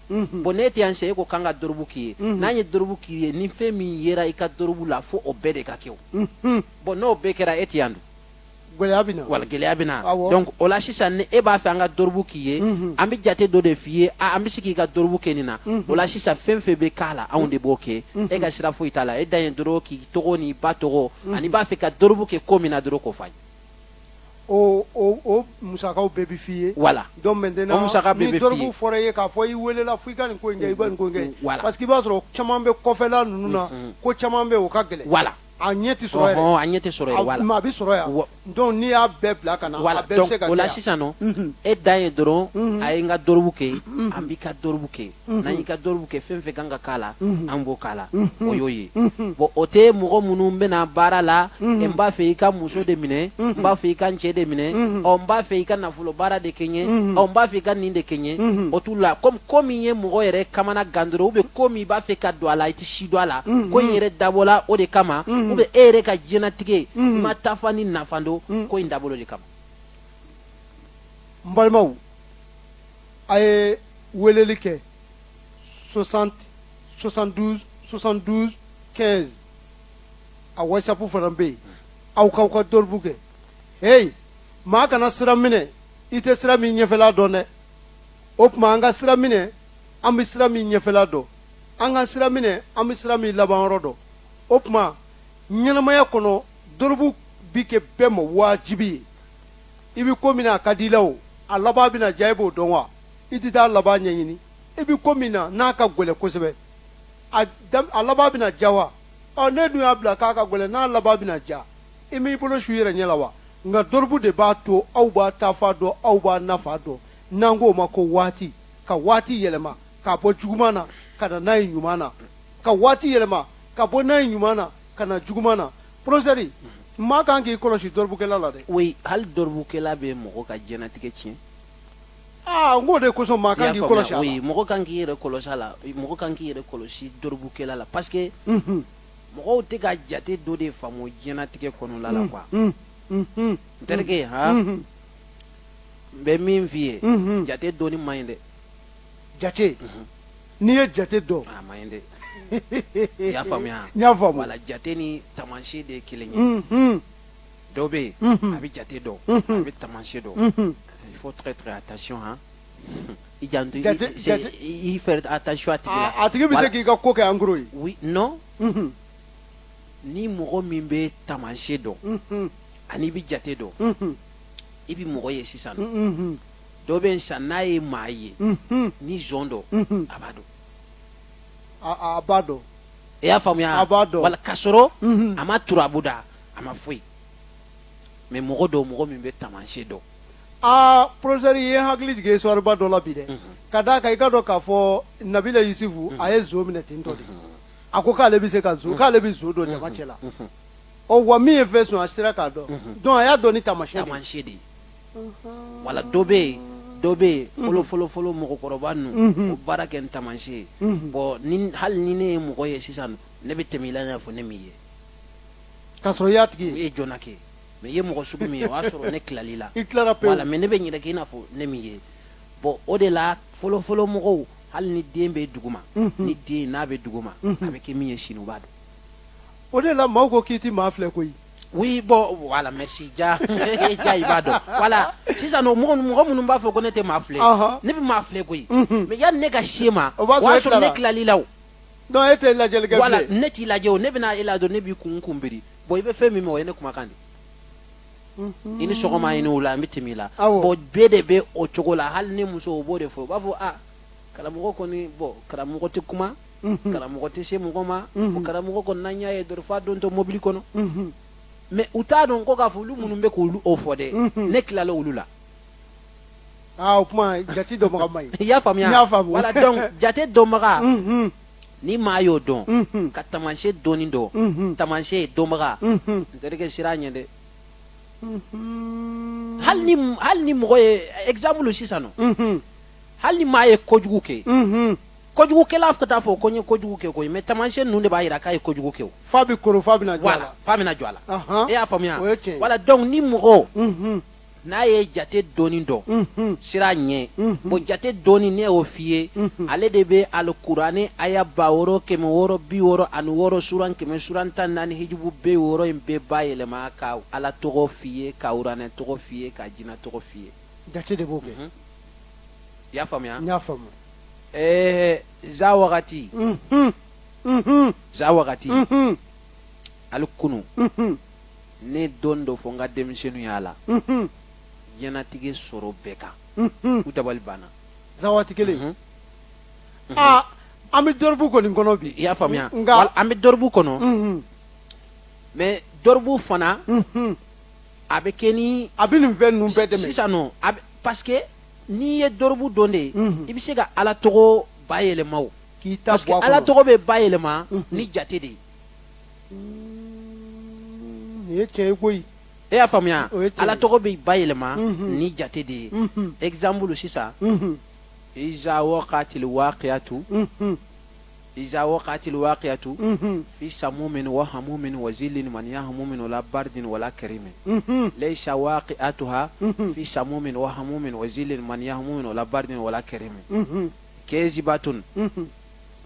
bon n'e tɛ yan sisan e ko k'an ka dorobu k'i ye n'an ye dorobu k'i ye ni fɛn min yera i ka dorobu la fo o bɛɛ de ka kɛ o bon n'o bɛɛ kɛra e tɛ yan dun gɛlɛya bɛ na wala gɛlɛya bɛ na Awɔ. donc o la sisan ni e b'a fɛ an ka dorobu k'i ye an bɛ jate dɔ de f'i ye a an bɛ se k'i ka dorobu kɛ nin na o la sisan fɛn fɛn bɛ k'a la anw de b'o kɛ e ka sira foyi t'a la e dan ye dɔrɔn k'i tɔgɔ n'i ba tɔgɔ an'i b'a fɛ ka dɔrɔbu kɛ ko min na dɔrɔn k'o f'an ye o musakaw bɛɛ bɛ f'i ye wala donc maintenant dɔrɔbu fɔra i ye k'a fɔ i weelela fo i ka nin ko in kɛ i bɛ nin ko in kɛ parce que i b'a sɔrɔ caman bɛ kɔfɛla ninnu na ko caman bɛ o ka gɛlɛn wala a ɲɛ tɛ sɔrɔ a ɲɛ tɛ sɔrɔ mais a bɛ sɔrɔ yan donc n'i y'a bɛɛ bila ka na wala o la sisan nɔ e dan ye dɔrɔn a ye n ka dɔrɔbu kɛ an b'i ka dɔrɔbu kɛ n'an y'i ka dɔrɔbu kɛ fɛn fɛn kan ka k'a la an b'o k'a la o y'o ye bon o tɛ mɔgɔ minnu bɛ na baara la n b'a fɛ i ka muso de minɛ n b'a fɛ i ka cɛ de minɛ n b'a fɛ i ka nafolo baara de kɛ n ye n b'a fɛ i ka nin de kɛ n ye o t'u la ko min ye mɔgɔ yɛrɛ kamanagan dɔrɔn oubien ko min b'a fɛ ka don a la i tɛ si dɔn a la ko in yɛrɛ dabɔla o de kama oubien e yɛrɛ ka diɲɛlatigɛ i ma taafan ni naafan dɔn ko in dabɔla o de kama n balimaw a ye weleli kɛ 60 72 72 15 a whatsapp fana bɛ yen aw k'aw ka dɔrɔbu kɛ hey maa kana sira minɛ i tɛ sira min ɲɛfɛla dɔn dɛ o tuma an ka sira minɛ an bɛ sira min ɲɛfɛla dɔn an ka sira minɛ an bɛ sira min laban yɔrɔ dɔn o tuma ɲɛnamaya kɔnɔ dɔribu bi kɛ bɛɛ ma wajibi ye i bɛ ko min na a ka di i la o a laban bɛna diya i b'o dɔn wa i tɛ taa laban ɲɛɲini i bɛ ko min na n'a ka gɛlɛn kosɛbɛ a dam- a laban bɛna diya wa ɔ n'e dun y'a bila k'a ka gɛlɛn n'a laban bɛna diya i m'i bolo su i yɛrɛ ɲɛ la wa nka dɔribu de b'a to aw b'a taafan dɔn aw b'a nafa dɔn n'an k'o ma ko waati ka waati yɛlɛma ka bɔ juguman na ka na n'a ye ɲuman na ka waati yɛlɛma ka bɔ n'a ye ɲuman na ka na juguman na professeur maa kan k'i kɔlɔsi dɔribukɛla la dɛ oui hali dɔribukɛla bɛ mɔgɔ ka diɲɛnatigɛ tiɲɛ aa n k'o de kosɔn maa kan k'i kɔlɔsi a la oui mɔgɔ kan k'i yɛrɛ kɔlɔsi a la mɔgɔ kan k'i yɛrɛ kɔlɔsi dɔribukɛla la parce que unhun mɔgɔw tɛ ka jate dɔ de faamu diɲɛnatigɛ kɔnɔna la quoi n terikɛ han n bɛ min f'i ye unhun jate dɔnni man ɲi dɛ jate mhm. n'i ye jate dɔn a man ɲi dɛ i y'a faamuya n y'a faamu voilà jate ni tamasiyɛn de ye kelen ye unhun dɔw bɛ yen mhm. a bɛ jate dɔn a bɛ tamasiyɛn dɔn mhm. il faut très très attention hein i janto i faire attention a tigi la ah, a tigi bɛ se k'i ka ko kɛ en gros ye oui non ni mɔgɔ min bɛ tamasiyɛn dɔn ani i bɛ jate dɔn i bɛ mɔgɔ ye sisan dɔ bɛ sa n'a ye maa ye ni zon don a b'a dɔn a b'a dɔn i y'a faamuya voilà k'a sɔrɔ a ma turabu da a ma foyi mais mɔgɔ dɔw mɔgɔ min bɛ tamasiyɛn dɔn aa professeur i ye hakili jigin histoire ba dɔ la bi dɛ ka d'a kan i k'a dɔn k'a fɔ nabila yusufu a ye zon minɛ ten tɔ de a ko k'ale bɛ se ka zon k'ale bɛ zon dɔn jama cɛ la wa min ye fɛn son a sera k'a dɔn donc a y'a dɔn ni tamasiyɛn de voilà dɔ bɛ yen dɔ bɛ yen fɔlɔfɔlɔfɔlɔ mɔgɔkɔrɔba ninnu o baara kɛ ni tamasiyɛn ye bon ni hali ni ne ye mɔgɔ ye sisan ne bɛ tɛmɛ i la i n'a fɔ ne m'i ye k'a sɔrɔ y'a tigi ye joona kɛ mais i ye mɔgɔ sugu min ye o y'a sɔrɔ ne tilal'i la i tilala voilà mais ne bɛ n yɛrɛ kɛ n'a fɔ ne m'i ye bon o de la fɔlɔfɔlɔ mɔgɔw hali ni den bɛ duguma ni den n'a bɛ duguma a bɛ kɛ min ye sini u b'a dɔn o de la maaw ko k'i tɛ maa filɛ koyi oui bon voilà merci ja ja i b'a dɔn voilà sisan nɔ mɔgɔ mɔgɔ minnu b'a fɔ ko ne tɛ maa filɛ Ɔhɔ. ne bɛ maa filɛ koyi Mhm. mais yanni ne ka se i ma O o b'a sɔrɔ y'a e sɔrɔ ne tilala. tilal'i la o non e tɛ lajɛli kɛ voilà bilen ne t'i lajɛ o ne bɛna e la dɔn ne b'i kun kun biri bon i bɛ fɛn min mɛn o ye ne kumakan de ye. i ni sɔgɔma i ni wula an bɛ tɛmɛ i la Awɔ. bon bɛɛ de bɛ o cogo la hali ne muso o b'o de fɔ u b'a fɔ a karamɔgɔ kɔni bon karamɔgɔ tɛ kuma karamɔgɔ tɛ se mɔgɔ ma karamɔgɔ ko n'an y'a ye dɔrɔn f'a dontɔ mobili kɔnɔ mais u t'a dɔn ko k'a fɔ olu minnu bɛ k'olu o fɔ dɛ ne tilala olu la o tuma jate dɔnbaga man ɲi i y'a faamuya n y'a faamu voilà donc jate dɔnbaga ni maa y'o dɔn ka tamasiyɛn dɔɔnin dɔn tamasiyɛn dɔnbaga n terikɛ siran a ɲɛ dɛ hali hali ni mɔgɔ ye exemple sisan nɔ hali ni maa ye kojugu kɛ kojugukɛla t'a fɔ ko n ye kojugu kɛ koyi mais tamasiyɛn ninnu de b'a jira k'a ye kojugu kɛ f'a bɛ koro f'a bɛna jɔ a la f'a bɛna jɔ a la e y'a faamuya voilà donc ni mɔgɔ n'a ye jate dɔɔnin dɔn siran a ɲɛ bon jate dɔɔnin ne y'o f'i ye ale de bɛ alikuranɛ aya ba wɔɔrɔ kɛmɛ wɔɔrɔ bi wɔɔrɔ ani wɔɔrɔ suran kɛmɛ suran tan ni naani hijibu bi wɔɔrɔ in bɛɛ bayɛlɛma ka ala tɔgɔ f'i ye ka uranɛ tɔgɔ f'i ye ka jinɛ tɔgɔ f'i ye jate de b'o kɛ i y'a faamuya n y'a faamu ɛɛ za wagati za wagati hali kunun ne don dɔ fɔ n ka denmisɛnninw y'a la diɲɛnatigɛ sɔrɔ bɛɛ kan u dabali banna za waati kelen aa an bɛ dɔrɔbu kɔni kɔnɔ bi i y'a faamuya nka an bɛ dɔrɔbu kɔnɔ mais dɔrɔbu fana a bɛ kɛ ni a bɛ nin fɛn ninnu bɛɛ dɛmɛ sisan nɔ a parce n'i ye dɔrɔbu dɔn de i bɛ se ka ala tɔgɔ bayɛlɛma k'i ta ala tɔgɔ bɛ bayɛlɛma ni jate de ye nin ye tiɲɛ ye koyi e y'a faamuya ala tɔgɔ bɛ bayɛlɛma ni jate de ye exemple sisan iza wakatili wakiyatu Iza wakatil wakiatu fi samu min wa hamu min wa zilin man ya hamu min wala bardin wala karimin laysa waqi'atuha fi samu min wa hamu min wa zilin man ya hamu min wala bardin wala karimin kezibatun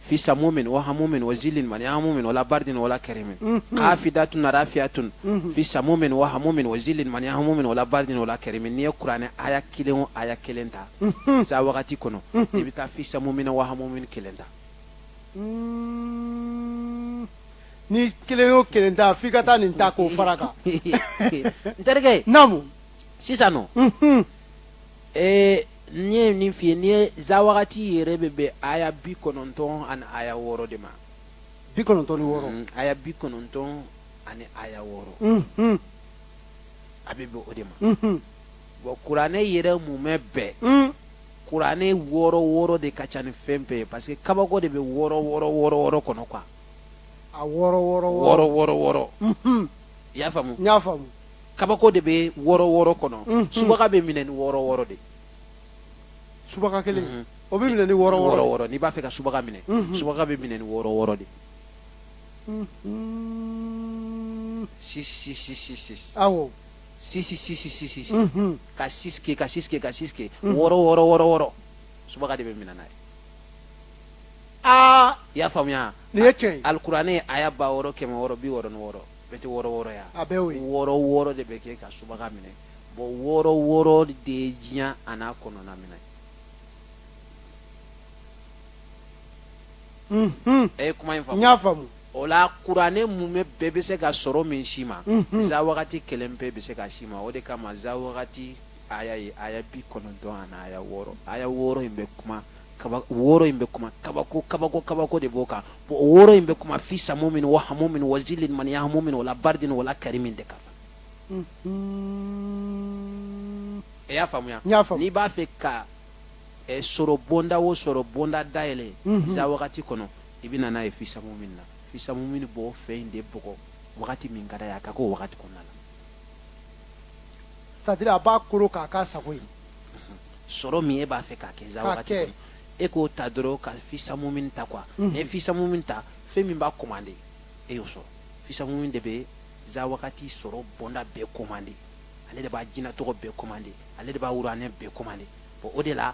fi samu min wa hamu min wa zilin man ya hamu min wala bardin wala karimin qafidatun rafi'atun fi samu min wa hamu min wa zilin man ya hamu min wala bardin wala karimin ni qur'ani aya kelen o aya kelen ta sa wakati kono i bɛ taa fi samu min wa hamu min kelen ta Ni kelen o kelen ta f'i ka taa nin ta k'o fara kan n terikɛ naamu sisan nɔ n ye nin f'i ye n'i ye za wagati yɛrɛ bɛ bɛn aya bi kɔnɔntɔn ani aya wɔɔrɔ de ma bi kɔnɔntɔn wɔɔrɔ aya bi kɔnɔntɔn ani aya wɔɔrɔ a bɛ bɛn o de ma bon kuranɛ yɛrɛ mumɛ bɛɛ Kuranɛ wɔɔrɔ wɔɔrɔ de ka ca ni fɛn bɛɛ ye parce que kabako de bɛ wɔɔrɔ wɔɔrɔ wɔɔrɔ wɔɔrɔ kɔnɔ quoi a wɔɔrɔ wɔɔrɔ wɔɔrɔ wɔɔrɔ wɔɔrɔ unhun i y'a faamu n y'a faamu kabako de bɛ wɔɔrɔ wɔɔrɔ kɔnɔ unhun subaga bɛ minɛ ni wɔɔrɔ wɔɔrɔ de subaga kelen unhun o bɛ minɛ ni wɔɔrɔ wɔɔrɔ wɔɔrɔ wɔɔrɔ n'i b'a fɛ ka subaga minɛ unhun subaga bɛ minɛ ni wɔɔrɔ wɔɔrɔ de unhun six six six six six awɔ sisisisisisi ka si ka si ka si wɔɔrɔ wɔɔrɔ wɔɔrɔ wɔɔrɔ subaga de bɛ minɛ n'a ye aa i y'a faamuya nin ye tiɲɛ ye alikuranɛ aya ba wɔɔrɔ kɛmɛ wɔɔrɔ bi wɔɔrɔ ni wɔɔrɔ bɛɛ tɛ wɔɔrɔ wɔɔrɔ ya a bɛɛ wɔɔrɔ wɔɔrɔ de bɛ kɛ ka subaga minɛ bon wɔɔrɔ wɔɔrɔ de ye diɲɛ a n'a kɔnɔna minɛ e ye kuma in faamu n y'a faamu O la kuranɛ mumɛ bɛɛ bɛ se ka sɔrɔ min si ma za wagati kelen bɛɛ bɛ se ka si ma o de kama za wagati aya ye aya bi kɔnɔntɔn ani aya wɔɔrɔ aya wɔɔrɔ in bɛ kuma kaba wɔɔrɔ in bɛ kuma kabako de b'o kan bon o wɔɔrɔ in bɛ kuma fi samumin wa hamumin wa zillin man yahmumin wa la baridin wa la karimin de kan i y'a faamuya n y'a faamu n'i b'a fɛ ka sɔrɔ bonda o sɔrɔ bonda dayɛlɛ za wagati kɔnɔ i bɛ na n'a ye fi samumin na fi samumin b'o fɛn in de bɔ wagati min ka d'a ye a ka k'o wagati kɔnɔna la c'est à dire a b'a kolo k'a k'a sago ye sɔrɔ min e b'a fɛ k'a kɛ za wagati kɔnɔ e k'o ta dɔrɔn ka fi samumin ta quoi e fi samumin ta fɛn min b'a commandé e y'o sɔrɔ fi samumin de bɛ za wagati sɔrɔ bonda bɛɛ commandé ale de b'a jinɛ tɔgɔ bɛɛ commandé ale de b'a wuranɛ bɛɛ commandé bon o de la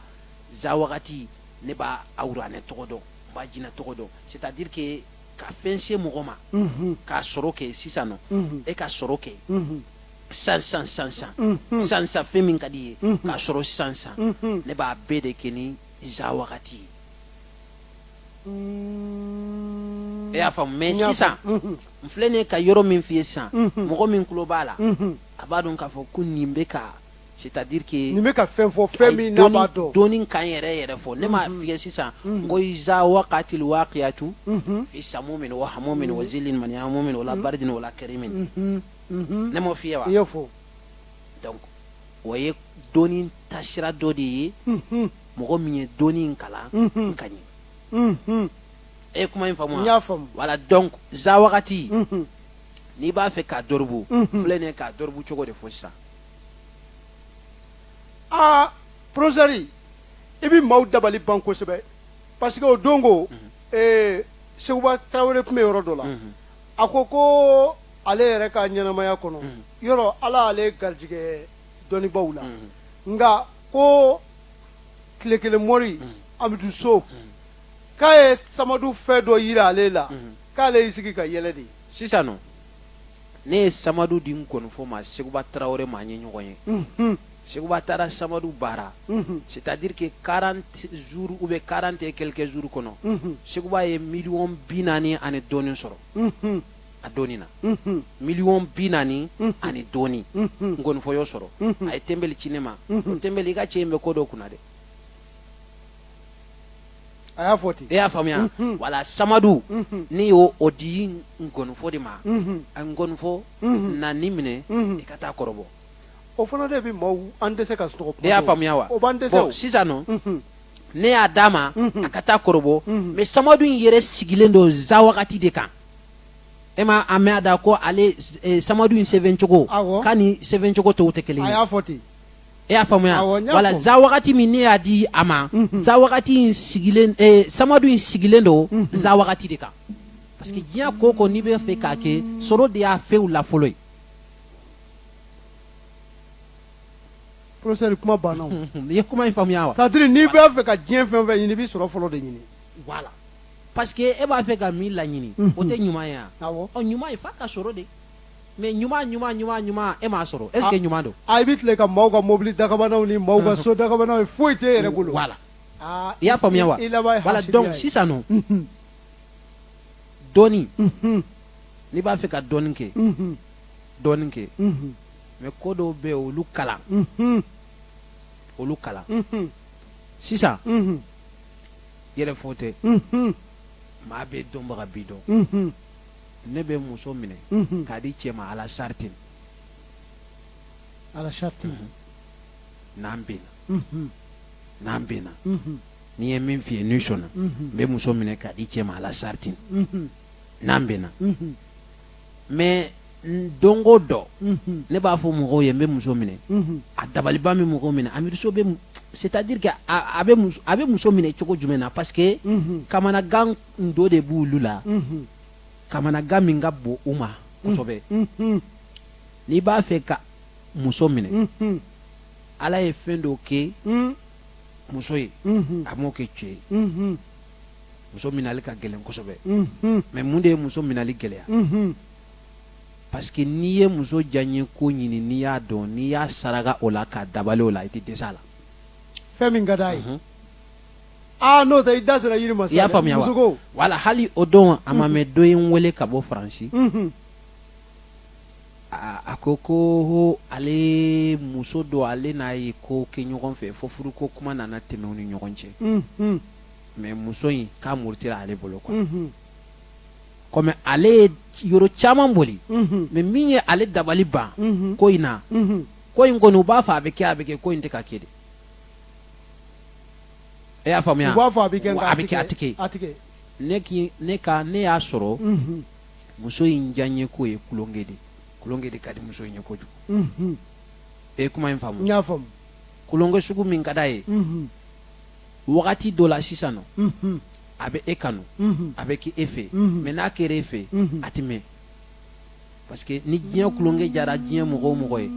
za wagati ne b'a wuranɛ tɔgɔ dɔn n b'a jinɛ tɔgɔ dɔn c'est à dire que ka fɛn se mɔgɔ ma k'a sɔrɔ kɛ sisan nɔ e ka sɔrɔ kɛ sansan fɛn min ka d'i ye k'a sɔrɔ sansan ne b'a bɛɛ de kɛ ni za wagati ye E y'a faamu mais sisan n filɛ nin ye ka yɔrɔ min f'i ye sisan mɔgɔ min tulo b'a la a b'a dɔn k'a fɔ ko nin bɛ ka c'est à dire que nin bɛ ka fɛn fɔ fɛn min n'a b'a dɔn dɔnni kan yɛrɛ yɛrɛ fɔ ne m'a f'i ye sisan n ko iza waqatil waqiyatu fi samumin wa hamumin wa zillin man yahmumin wa la baridin wa la karimin ne m'o f'i ye wa i y'o fɔ donc o ye dɔnni tasira dɔ de ye mɔgɔ min ye dɔnni in kalan ka ɲɛ e ye kuma in faamu wa n y'a faamu voilà donc za wagati n'i b'a fɛ k'a dɔribu n filɛ nin ye k'a dɔribu cogo de fɔ sisan aa professeur i bɛ maaw dabali ban kosɛbɛ parce que o don ko seguba tarawele tun bɛ yɔrɔ dɔ la a ko ko ale yɛrɛ ka ɲɛnamaya kɔnɔ yɔrɔ ala y'ale garijɛgɛ dɔnnibaw la nka ko tile kelen mori amidu so k'a ye samadu fɛn dɔ yira ale la k'ale y'i sigi ka yɛlɛ de sisan nɔ ne ye samadu di ngɔnifɔ ma seguba tarawele ma an ye ɲɔgɔn ye seguba taara samadu baara c'est à dire que quarante jours ou bien quarante et quelques jours kɔnɔ seguba ye miliyɔn bi naani ani dɔɔnin sɔrɔ a dɔɔnin na miliyɔn bi naani ani dɔɔnin nkɔnifɔ y'o sɔrɔ a ye tɛnbɛli ci ne ma tɛnbɛli i ka cɛ in bɛ ko dɔ kunna dɛ a y'a fɔ ten e y'a faamuya wala samadu n'i y'o o di nkɔnifɔ de ma a nkɔnifɔ na nin minɛ i ka taa kɔrɔbɔ o fana de bɛ maaw an tɛ se ka sunɔgɔ kuma ne y'a faamuya wa o b'an dɛsɛ o bon sisan nɔ unhun ne y'a d'a ma a ka taa kɔrɔbɔ Unhun. mais samadu in yɛrɛ sigilen don za wagati de kan e ma a mɛn a da ko ale eh, samadu in sɛbɛn cogo Awɔ. k'a ni sɛbɛn cogo tɔw tɛ kelen a ye y'a fɔ ten e y'a faamuya Awɔ, n y'a wala faamu. za wagati min ne y'a di a ma Unhun. za wagati in sigilen eh, samadu in sigilen don za wagati de kan parce que diɲɛ ko o ko n'i bɛ fɛ k'a kɛ sɔrɔ de y'a fɛnw la fɔlɔ ye Professeur kuma banna o. Unhun, i ye kuma in faamuya wa? C'est à dire n'i b'a fɛ ka diɲɛ fɛn o fɛn ɲini, i bɛ sɔrɔ fɔlɔ de ɲini. Voilà parce que e b'a fɛ ka min laɲini, unhun, o tɛ ɲuman ye wa? Awɔ. Ɔ ɲuman il faut a ka sɔrɔ de mais ɲuman ɲuman ɲuman ɲuman e m'a sɔrɔ est ce que ɲuman don? A i bɛ tile ka maaw ka mobili dakabanaw ni maaw ka so dakabanaw ye foyi t'e yɛrɛ bolo. Voilà aa i y'a faamuya wa? I laban ye hasidiya ye. Voilà donc sisan nɔ, unhun, dɔnni, unhun. n'i b'a fɛ ka dɔnni kɛ dɔnni kɛ mais ko dɔw bɛ olu kalan olu kalan sisan yɛrɛfɔ tɛ maa bɛɛ dɔnbaga b'i dɔn ne bɛ muso minɛ k'a di cɛ ma ala sariti ala sariti n'an bɛnna n'an bɛnna ni n ye min f'i ye n'i sɔnna n bɛ muso minɛ k'a di cɛ ma ala sariti n'an bɛnna mais don o don ne b'a fɔ mɔgɔw ye n bɛ muso minɛ a dabaliban bɛ mɔgɔw minɛ a miiriso bɛ c'est à dire que a bɛ muso minɛ cogo jumɛn na parce que kamanagan dɔ de b'olu la kamanagan min ka bon u ma kosɛbɛ n'i b'a fɛ ka muso minɛ ala ye fɛn dɔ kɛ muso ye a m'o kɛ cɛ ye muso minali ka gɛlɛn kosɛbɛ mais mun de ye muso minali gɛlɛya parce que n'i ye muso diyanye ko ɲini n'i y'a dɔn n'i y'a saraka o la k'a dabali o la i tɛ dɛsɛ a la fɛn min ka d'a ye aaa n'o tɛ i da sera yiri ma y'a faamuya wala hali o don a ma mɛɛn dɔ ye n weele ka bɔ faransi Aa a ko ko ale muso dɔ ale n'a ye ko kɛ ɲɔgɔn fɛ fo furu ko kuma nana tɛmɛ u ni ɲɔgɔn cɛ mais muso in k'a murutira ale bolo quoi kɔmi ale ye yɔrɔ caman boli mais min ye ale dabali ban ko in na ko in kɔni u b'a fɔ a bɛ kɛ a bɛ kɛ ko in tɛ ka kɛ dɛ e y'a faamuya u b'a fɔ a bɛ kɛ a tɛ kɛ ne y'a sɔrɔ muso in diyanyeko ye tulonkɛ de tulonkɛ de ka di muso in ye kojugu mhm. e ye kuma in faamu n y'a faamu tulonkɛ sugu min ka d'a ye mhm. wagati dɔ la sisan nɔ mhm. a bɛ e kanu a bɛ kɛ e fɛ mais n'a kɛra e fɛ a tɛ mɛn parce que ni diɲɛ tulonkɛ diyara diɲɛ mɔgɔ o mɔgɔ ye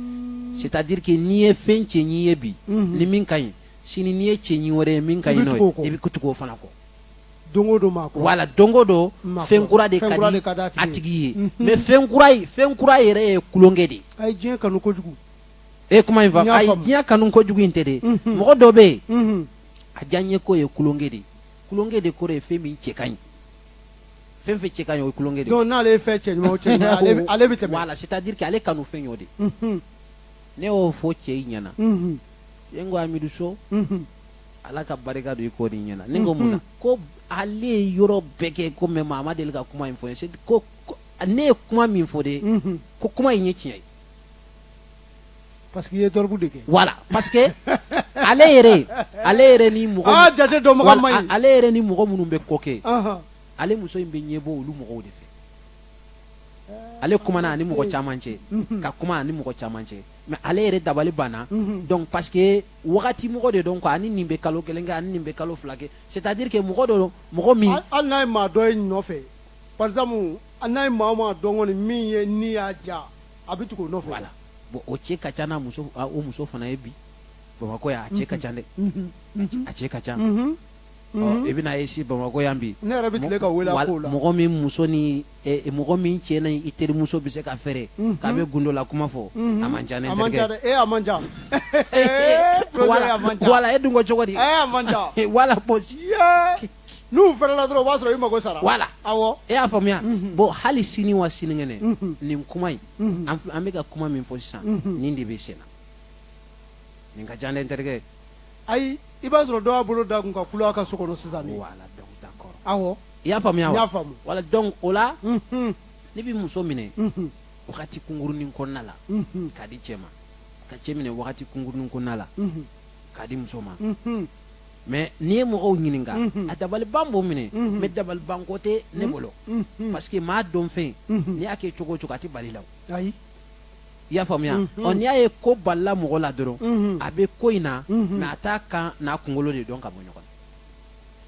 c'est à dire que n'i ye fɛn cɛɲi ye bi ni min ka ɲi sini n'i ye cɛɲi wɛrɛ ye min ka ɲi n'o ye i bɛ tugu o fana kɔ don o don maa kura, voila don o don fɛn kura de ka di a tigi ye, unhun, mais fɛn kura in fɛn kura yɛrɛ ye tulonkɛ de ye, a ye diɲɛ kanu kojugu, e ye kuma in faamu, a ye diɲɛ kanu kojugu in tɛ dɛ, unhun, mɔgɔ dɔ bɛ yen, unhun, a diyanyeko ye tulonkɛ de ye, tulonkɛ de kɔrɔ ye fɛn min cɛ ka ɲi, fɛn o fɛn cɛ ka ɲi o ye tulonkɛ de ye, donc n'ale ye fɛn cɛ ɲuman o cɛ ɲuman ale bɛ tɛmɛ, voila c'est à dire que ale kanu fɛn y'o de ye, unhun, ne y'o fɔ cɛ in ɲɛna, unhun, cɛ in ko Amidu So, unhun Ala ka barika don i ko nin ɲɛna ne ko mun na ko ale ye yɔrɔ bɛɛ kɛ ko mais maa ma deli ka kuma in fɔ n ye ko ne ye kuma min fɔ de ko kuma in ye tiɲɛ ye parce que i ye yɔrɔ bɛɛ de kɛ voila parce que ale yɛrɛ ale yɛrɛ ni mɔgɔ jate dɔn ale yɛrɛ ni mɔgɔ minnu bɛ ko kɛ ale muso in bɛ ɲɛ bɔ olu mɔgɔw de fɛ ale kumana a ni mɔgɔ caman cɛ ka kuma a ni mɔgɔ caman cɛ mais ale yɛrɛ dabali banna donc parce que wagati mɔgɔ de don quoi a ni nin bɛ kalo kelen kɛ a ni nin bɛ kalo fila kɛ c'est à dire que mɔgɔ dɔ mɔgɔ min hali n'a ye maa dɔ ye nɔfɛ par exemple n'a ye maa o maa dɔn kɔni min ye ni y'a ja a bɛ tugu o nɔfɛ voila bon o cɛ ka ca n'a muso o muso fana ye bi bamakɔ yan a cɛ ka ca dɛ a cɛ ka ca i bɛna ye si bamakɔ yan bi ne yɛrɛ bɛ ka mɔgɔ min muso ni mɔgɔ min cɛ ni i terimuso bɛ se ka fɛrɛ k'a bɛ gundo la kuma fɔ a man ca dɛ a man ca voila e dun ko cogo di a man ca voila bɔn n'u fɛrɛla dɔrɔn o b'a sɔrɔ i mako sara voila awɔ e y'a faamuya bɔn hali sini wa sinikɛnɛ nin kuma in an bɛ ka kuma min fɔ sisan nin de bɛ sen na nin ka ca dɛ n terikɛ ayi i b'a sɔrɔ dɔ y'a bolo da kun ka kulo a ka so kɔnɔ sisan i y'a faamuya wa n y'a faamu wala donc o la ne bɛ muso minɛ wagati kunkurunin kɔnɔna la k'a di cɛ ma ka cɛ minɛ wagati kunkurunin kɔnɔna la k'a di muso ma mais n'i ye mɔgɔw ɲininka a dabaliban b'o minɛ mais dabaliban ko tɛ ne bolo parce que maa dɔn fɛn n'i y'a kɛ cogo o cogo a tɛ bali la i y'a faamuya ɔ n'i y'a ye ko balila mɔgɔ la dɔrɔn a bɛ ko in na mais a t'a kan n'a kunkolo de dɔn ka bɔ ɲɔgɔn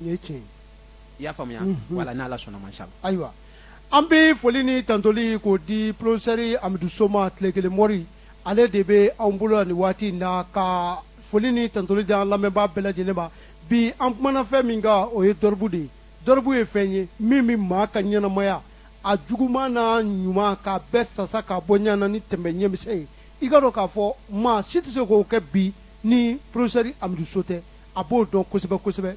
na i y'a faamuya wala n'ala sɔnna ma inshallah ayiwa an bɛ foli ni tantoli k'o di professeur amidu so ma tile kelen mori ale de bɛ anw bolo nin waati in na ka foli ni tantoli di an lamɛnbaa bɛɛ lajɛlen ma bi an kumana fɛn min kan o ye dɔribu de ye dɔribu ye fɛn ye min bɛ maa ka ɲɛnamaya a juguman n'a ɲuman k'a bɛɛ sasa ka bɔ ɲɔgɔn na ni tɛmɛ ɲɛmisɛn ye i k'a dɔn k'a fɔ maa si tɛ se k'o kɛ bi ni professeur amidu so tɛ a b'o dɔn kosɛbɛ kosɛbɛ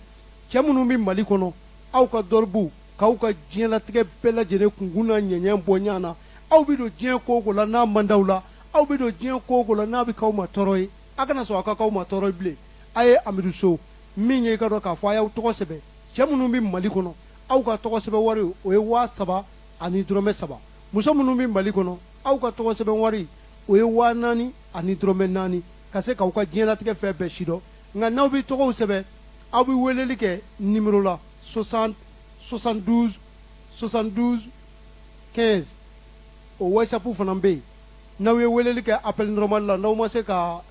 cɛ minnu bɛ mali kɔnɔ aw ka dɔribu k'aw ka diɲɛlatigɛ bɛɛ lajɛlen kunkun n'a ɲɛɲɛ bɔ ɲɔgɔn na aw bɛ don diɲɛ ko o ko la n'a man d'aw la aw bɛ don diɲɛ ko o ko la n'a bɛ k'aw ma tɔɔrɔ ye aw kana sɔn a ka k'aw ma tɔɔrɔ bilen a ye amidu so min ye i k'a dɔn k'a fɔ a y'aw tɔgɔ sɛbɛn cɛ minnu bɛ mali kɔnɔ aw ka tɔgɔ sɛbɛn wari o ye waa saba ani dɔrɔmɛ saba muso minnu bɛ mali kɔnɔ aw ka tɔgɔ sɛbɛn wari o ye waa naani ani dɔrɔmɛ naani ka se k'aw ka diɲɛlatigɛ fɛn bɛɛ sidɔn nka n'aw bɛ tɔgɔ sɛbɛn aw bɛ weleli kɛ numéro la 60 72 72 15 o whatsapp fana bɛ yen n'aw ye weleli kɛ appel normal la n'aw ma se ka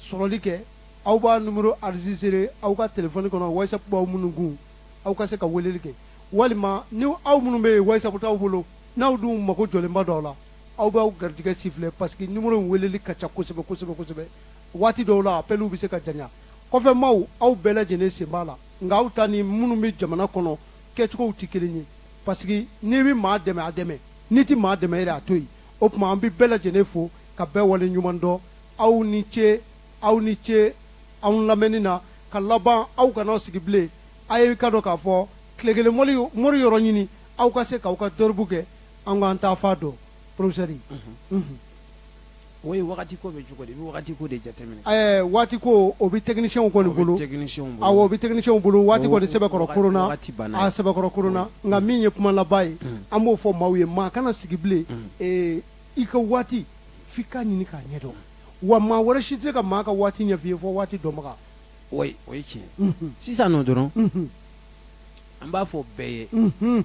sɔrɔli kɛ aw b'a numéro enregistrer aw ka téléphone kɔnɔ whatsapp b'aw minnu kun aw ka se ka weleli kɛ walima ni aw minnu bɛ yen whatsapp t'aw bolo n'aw dun mago jɔlenba don a la aw b'aw garijɛgɛ sifilɛ parce que numéro in weleli ka ca kosɛbɛ kosɛbɛ kosɛbɛ waati dɔw la appels bɛ se ka janya kɔfɛ maaw aw bɛɛ lajɛlen sen b'a la nka aw ta ni minnu bɛ jamana kɔnɔ kɛcogow tɛ kelen ye parce que n'i bɛ maa dɛmɛ a dɛmɛ n'i tɛ maa dɛmɛ yɛrɛ a to yen o tuma an bɛ bɛɛ lajɛlen fo ka bɛɛ wale ɲuman dɔn aw ni ce aw ni ce anw lamɛnni na ka laban aw kana sigi bilen a ye k'a dɔn k'a fɔ tile kelen mori mori yɔrɔ ɲini aw ka se k'aw ka dɔribu kɛ an k'an taa fan dɔn professeur o waati ko bɛ cogo di i bɛ waati ko de jateminɛ ɛɛ waati ko o bɛ techniciens kɔni bolo awɔ o bɛ techniciens bolo waati kɔni sɛbɛkɔrɔ koronna a sɛbɛkɔrɔ koronna nka min ye kuma laban ye an b'o fɔ maaw ye maa kana sigi bilen i ka waati f'i k'a ɲini k'a ɲɛdɔn wa maa wɛrɛ si tɛ se ka maa ka waati ɲɛf'i ye fo waati dɔnbaga o ye tiɲɛ sisan n'o dɔrɔn an b'a fɔ bɛɛ ye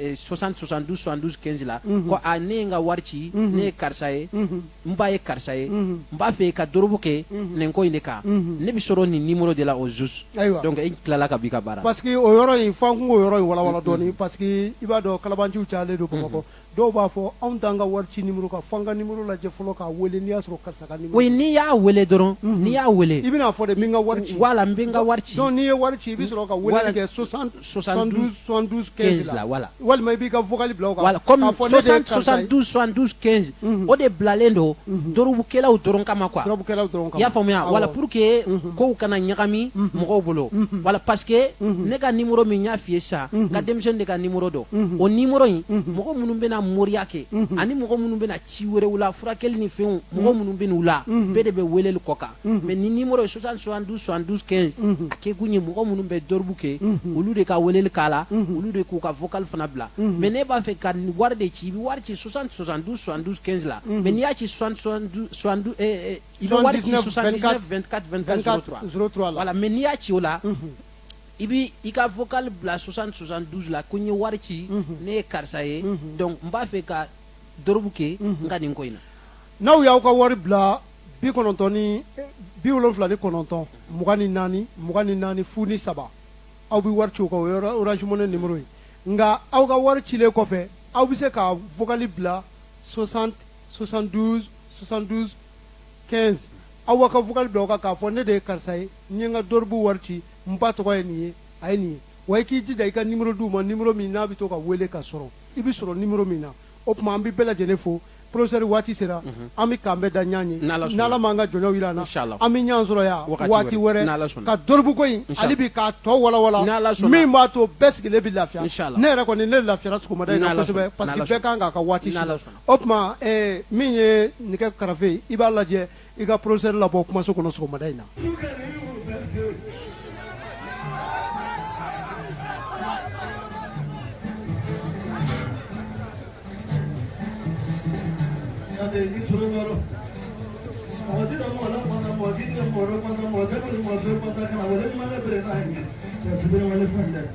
Eh, 60 72 72 15 la ko a ne ye n ka wari ci ne ye karisa ye n ba ye karisa ye n b'a fɛ ka dorobu kɛ nin ko in de kan ne bɛ sɔrɔ nin numéro de la o juste donc i tilala ka b'i ka baara parce que o yɔrɔ in f'an kan k'o yɔrɔ in walawala dɔɔni parce que i b'a dɔn kalabanciw cayalen don Bamakɔ dɔw b'a fɔ anw t'an ka wari ci numéro kan f'an ka numéro lajɛ fɔlɔ k'a weele n'i y'a sɔrɔ karisa Oui n'i y'a weele dɔrɔn n'i y'a weele i bɛn'a fɔ de n bɛ n ka wari ci voilà n bɛ n ka wari ci n'i ye wari ci i bɛ sɔrɔ ka weleli kɛ 60 72 72 15 la voilà walima i b'i ka vocal bila o kan comme 60 72 72 15 o de bilalen don dorobukɛlaw dɔrɔn kama quoi dorobukɛlaw dɔrɔn kama i y'a faamuya voilà pour que kow kana ɲagami mɔgɔw bolo voilà parce que ne ka numéro min n y'a f'i ye sisan n ka denmisɛnnin de ka numéro don o numéro in mɔgɔ minnu bɛna moriya kɛ ani mɔgɔ minnu bɛna ci wɛrɛw la furakɛ ni fɛn mɔgɔ minnu bɛ u la bɛɛ de bɛ wele kɔ kan mɛ ni mori sonsan susan susan kɛ a kɛ kun ye mɔgɔ minnu bɛ dɔbu kɛ olu de ka wele k'a la olu de k'u ka fɔ kali fana bila mɛ ne b'a fɛ ka nin wari de ci i bɛ wari ci sonsan sonsan susan kɛn la mɛ n' y'a ci sonsan sonsan la mɛ n'i y'a ci o la i bɛ i ka fɔkali bila sonsan sonsan dusu la ko n ye wari ci ne ye karisa ye dɔnku n b'a fɛ ka n'aw y'aw ka wari bila bi kɔnɔntɔn ni bi wolonwula ni kɔnɔntɔn mugan ni naani mugan ni naani fu ni saba aw bɛ wari ci o kan o ye Orange Money numéro ye nka aw ka wari cilen kɔfɛ aw bɛ se ka vocal bila 60 72 72 15 aw b'aw ka vocal bila o kan k'a fɔ ne de ye karisa ye n ye n ka dorobu wari ci n ba tɔgɔ ye nin ye a ye nin ye wa i k'i jija i ka numéro d'u ma numéro min n'a bɛ to ka weele k'a sɔrɔ i bɛ sɔrɔ numéro min na o tuma an bɛ bɛɛ lajɛlen fo professeur waati sera an bɛ k'an bɛn da ɲɔgɔn ye n'Ala m'an ka jɔnyaw jira an na an bɛ ɲɔgɔn sɔrɔ yan waati wɛrɛ ka dorobuko in hali bi k'a tɔ walawala min b'a to bɛɛ sigilen bɛ lafiya ne yɛrɛ kɔni ne lafiyara sɔgɔmada in na kosɛbɛ parce que bɛɛ kan k'a ka waati o tuma min ye nɛgɛ karafe i b'a lajɛ i ka professeur labɔ kumaso kɔnɔ sɔgɔmada in na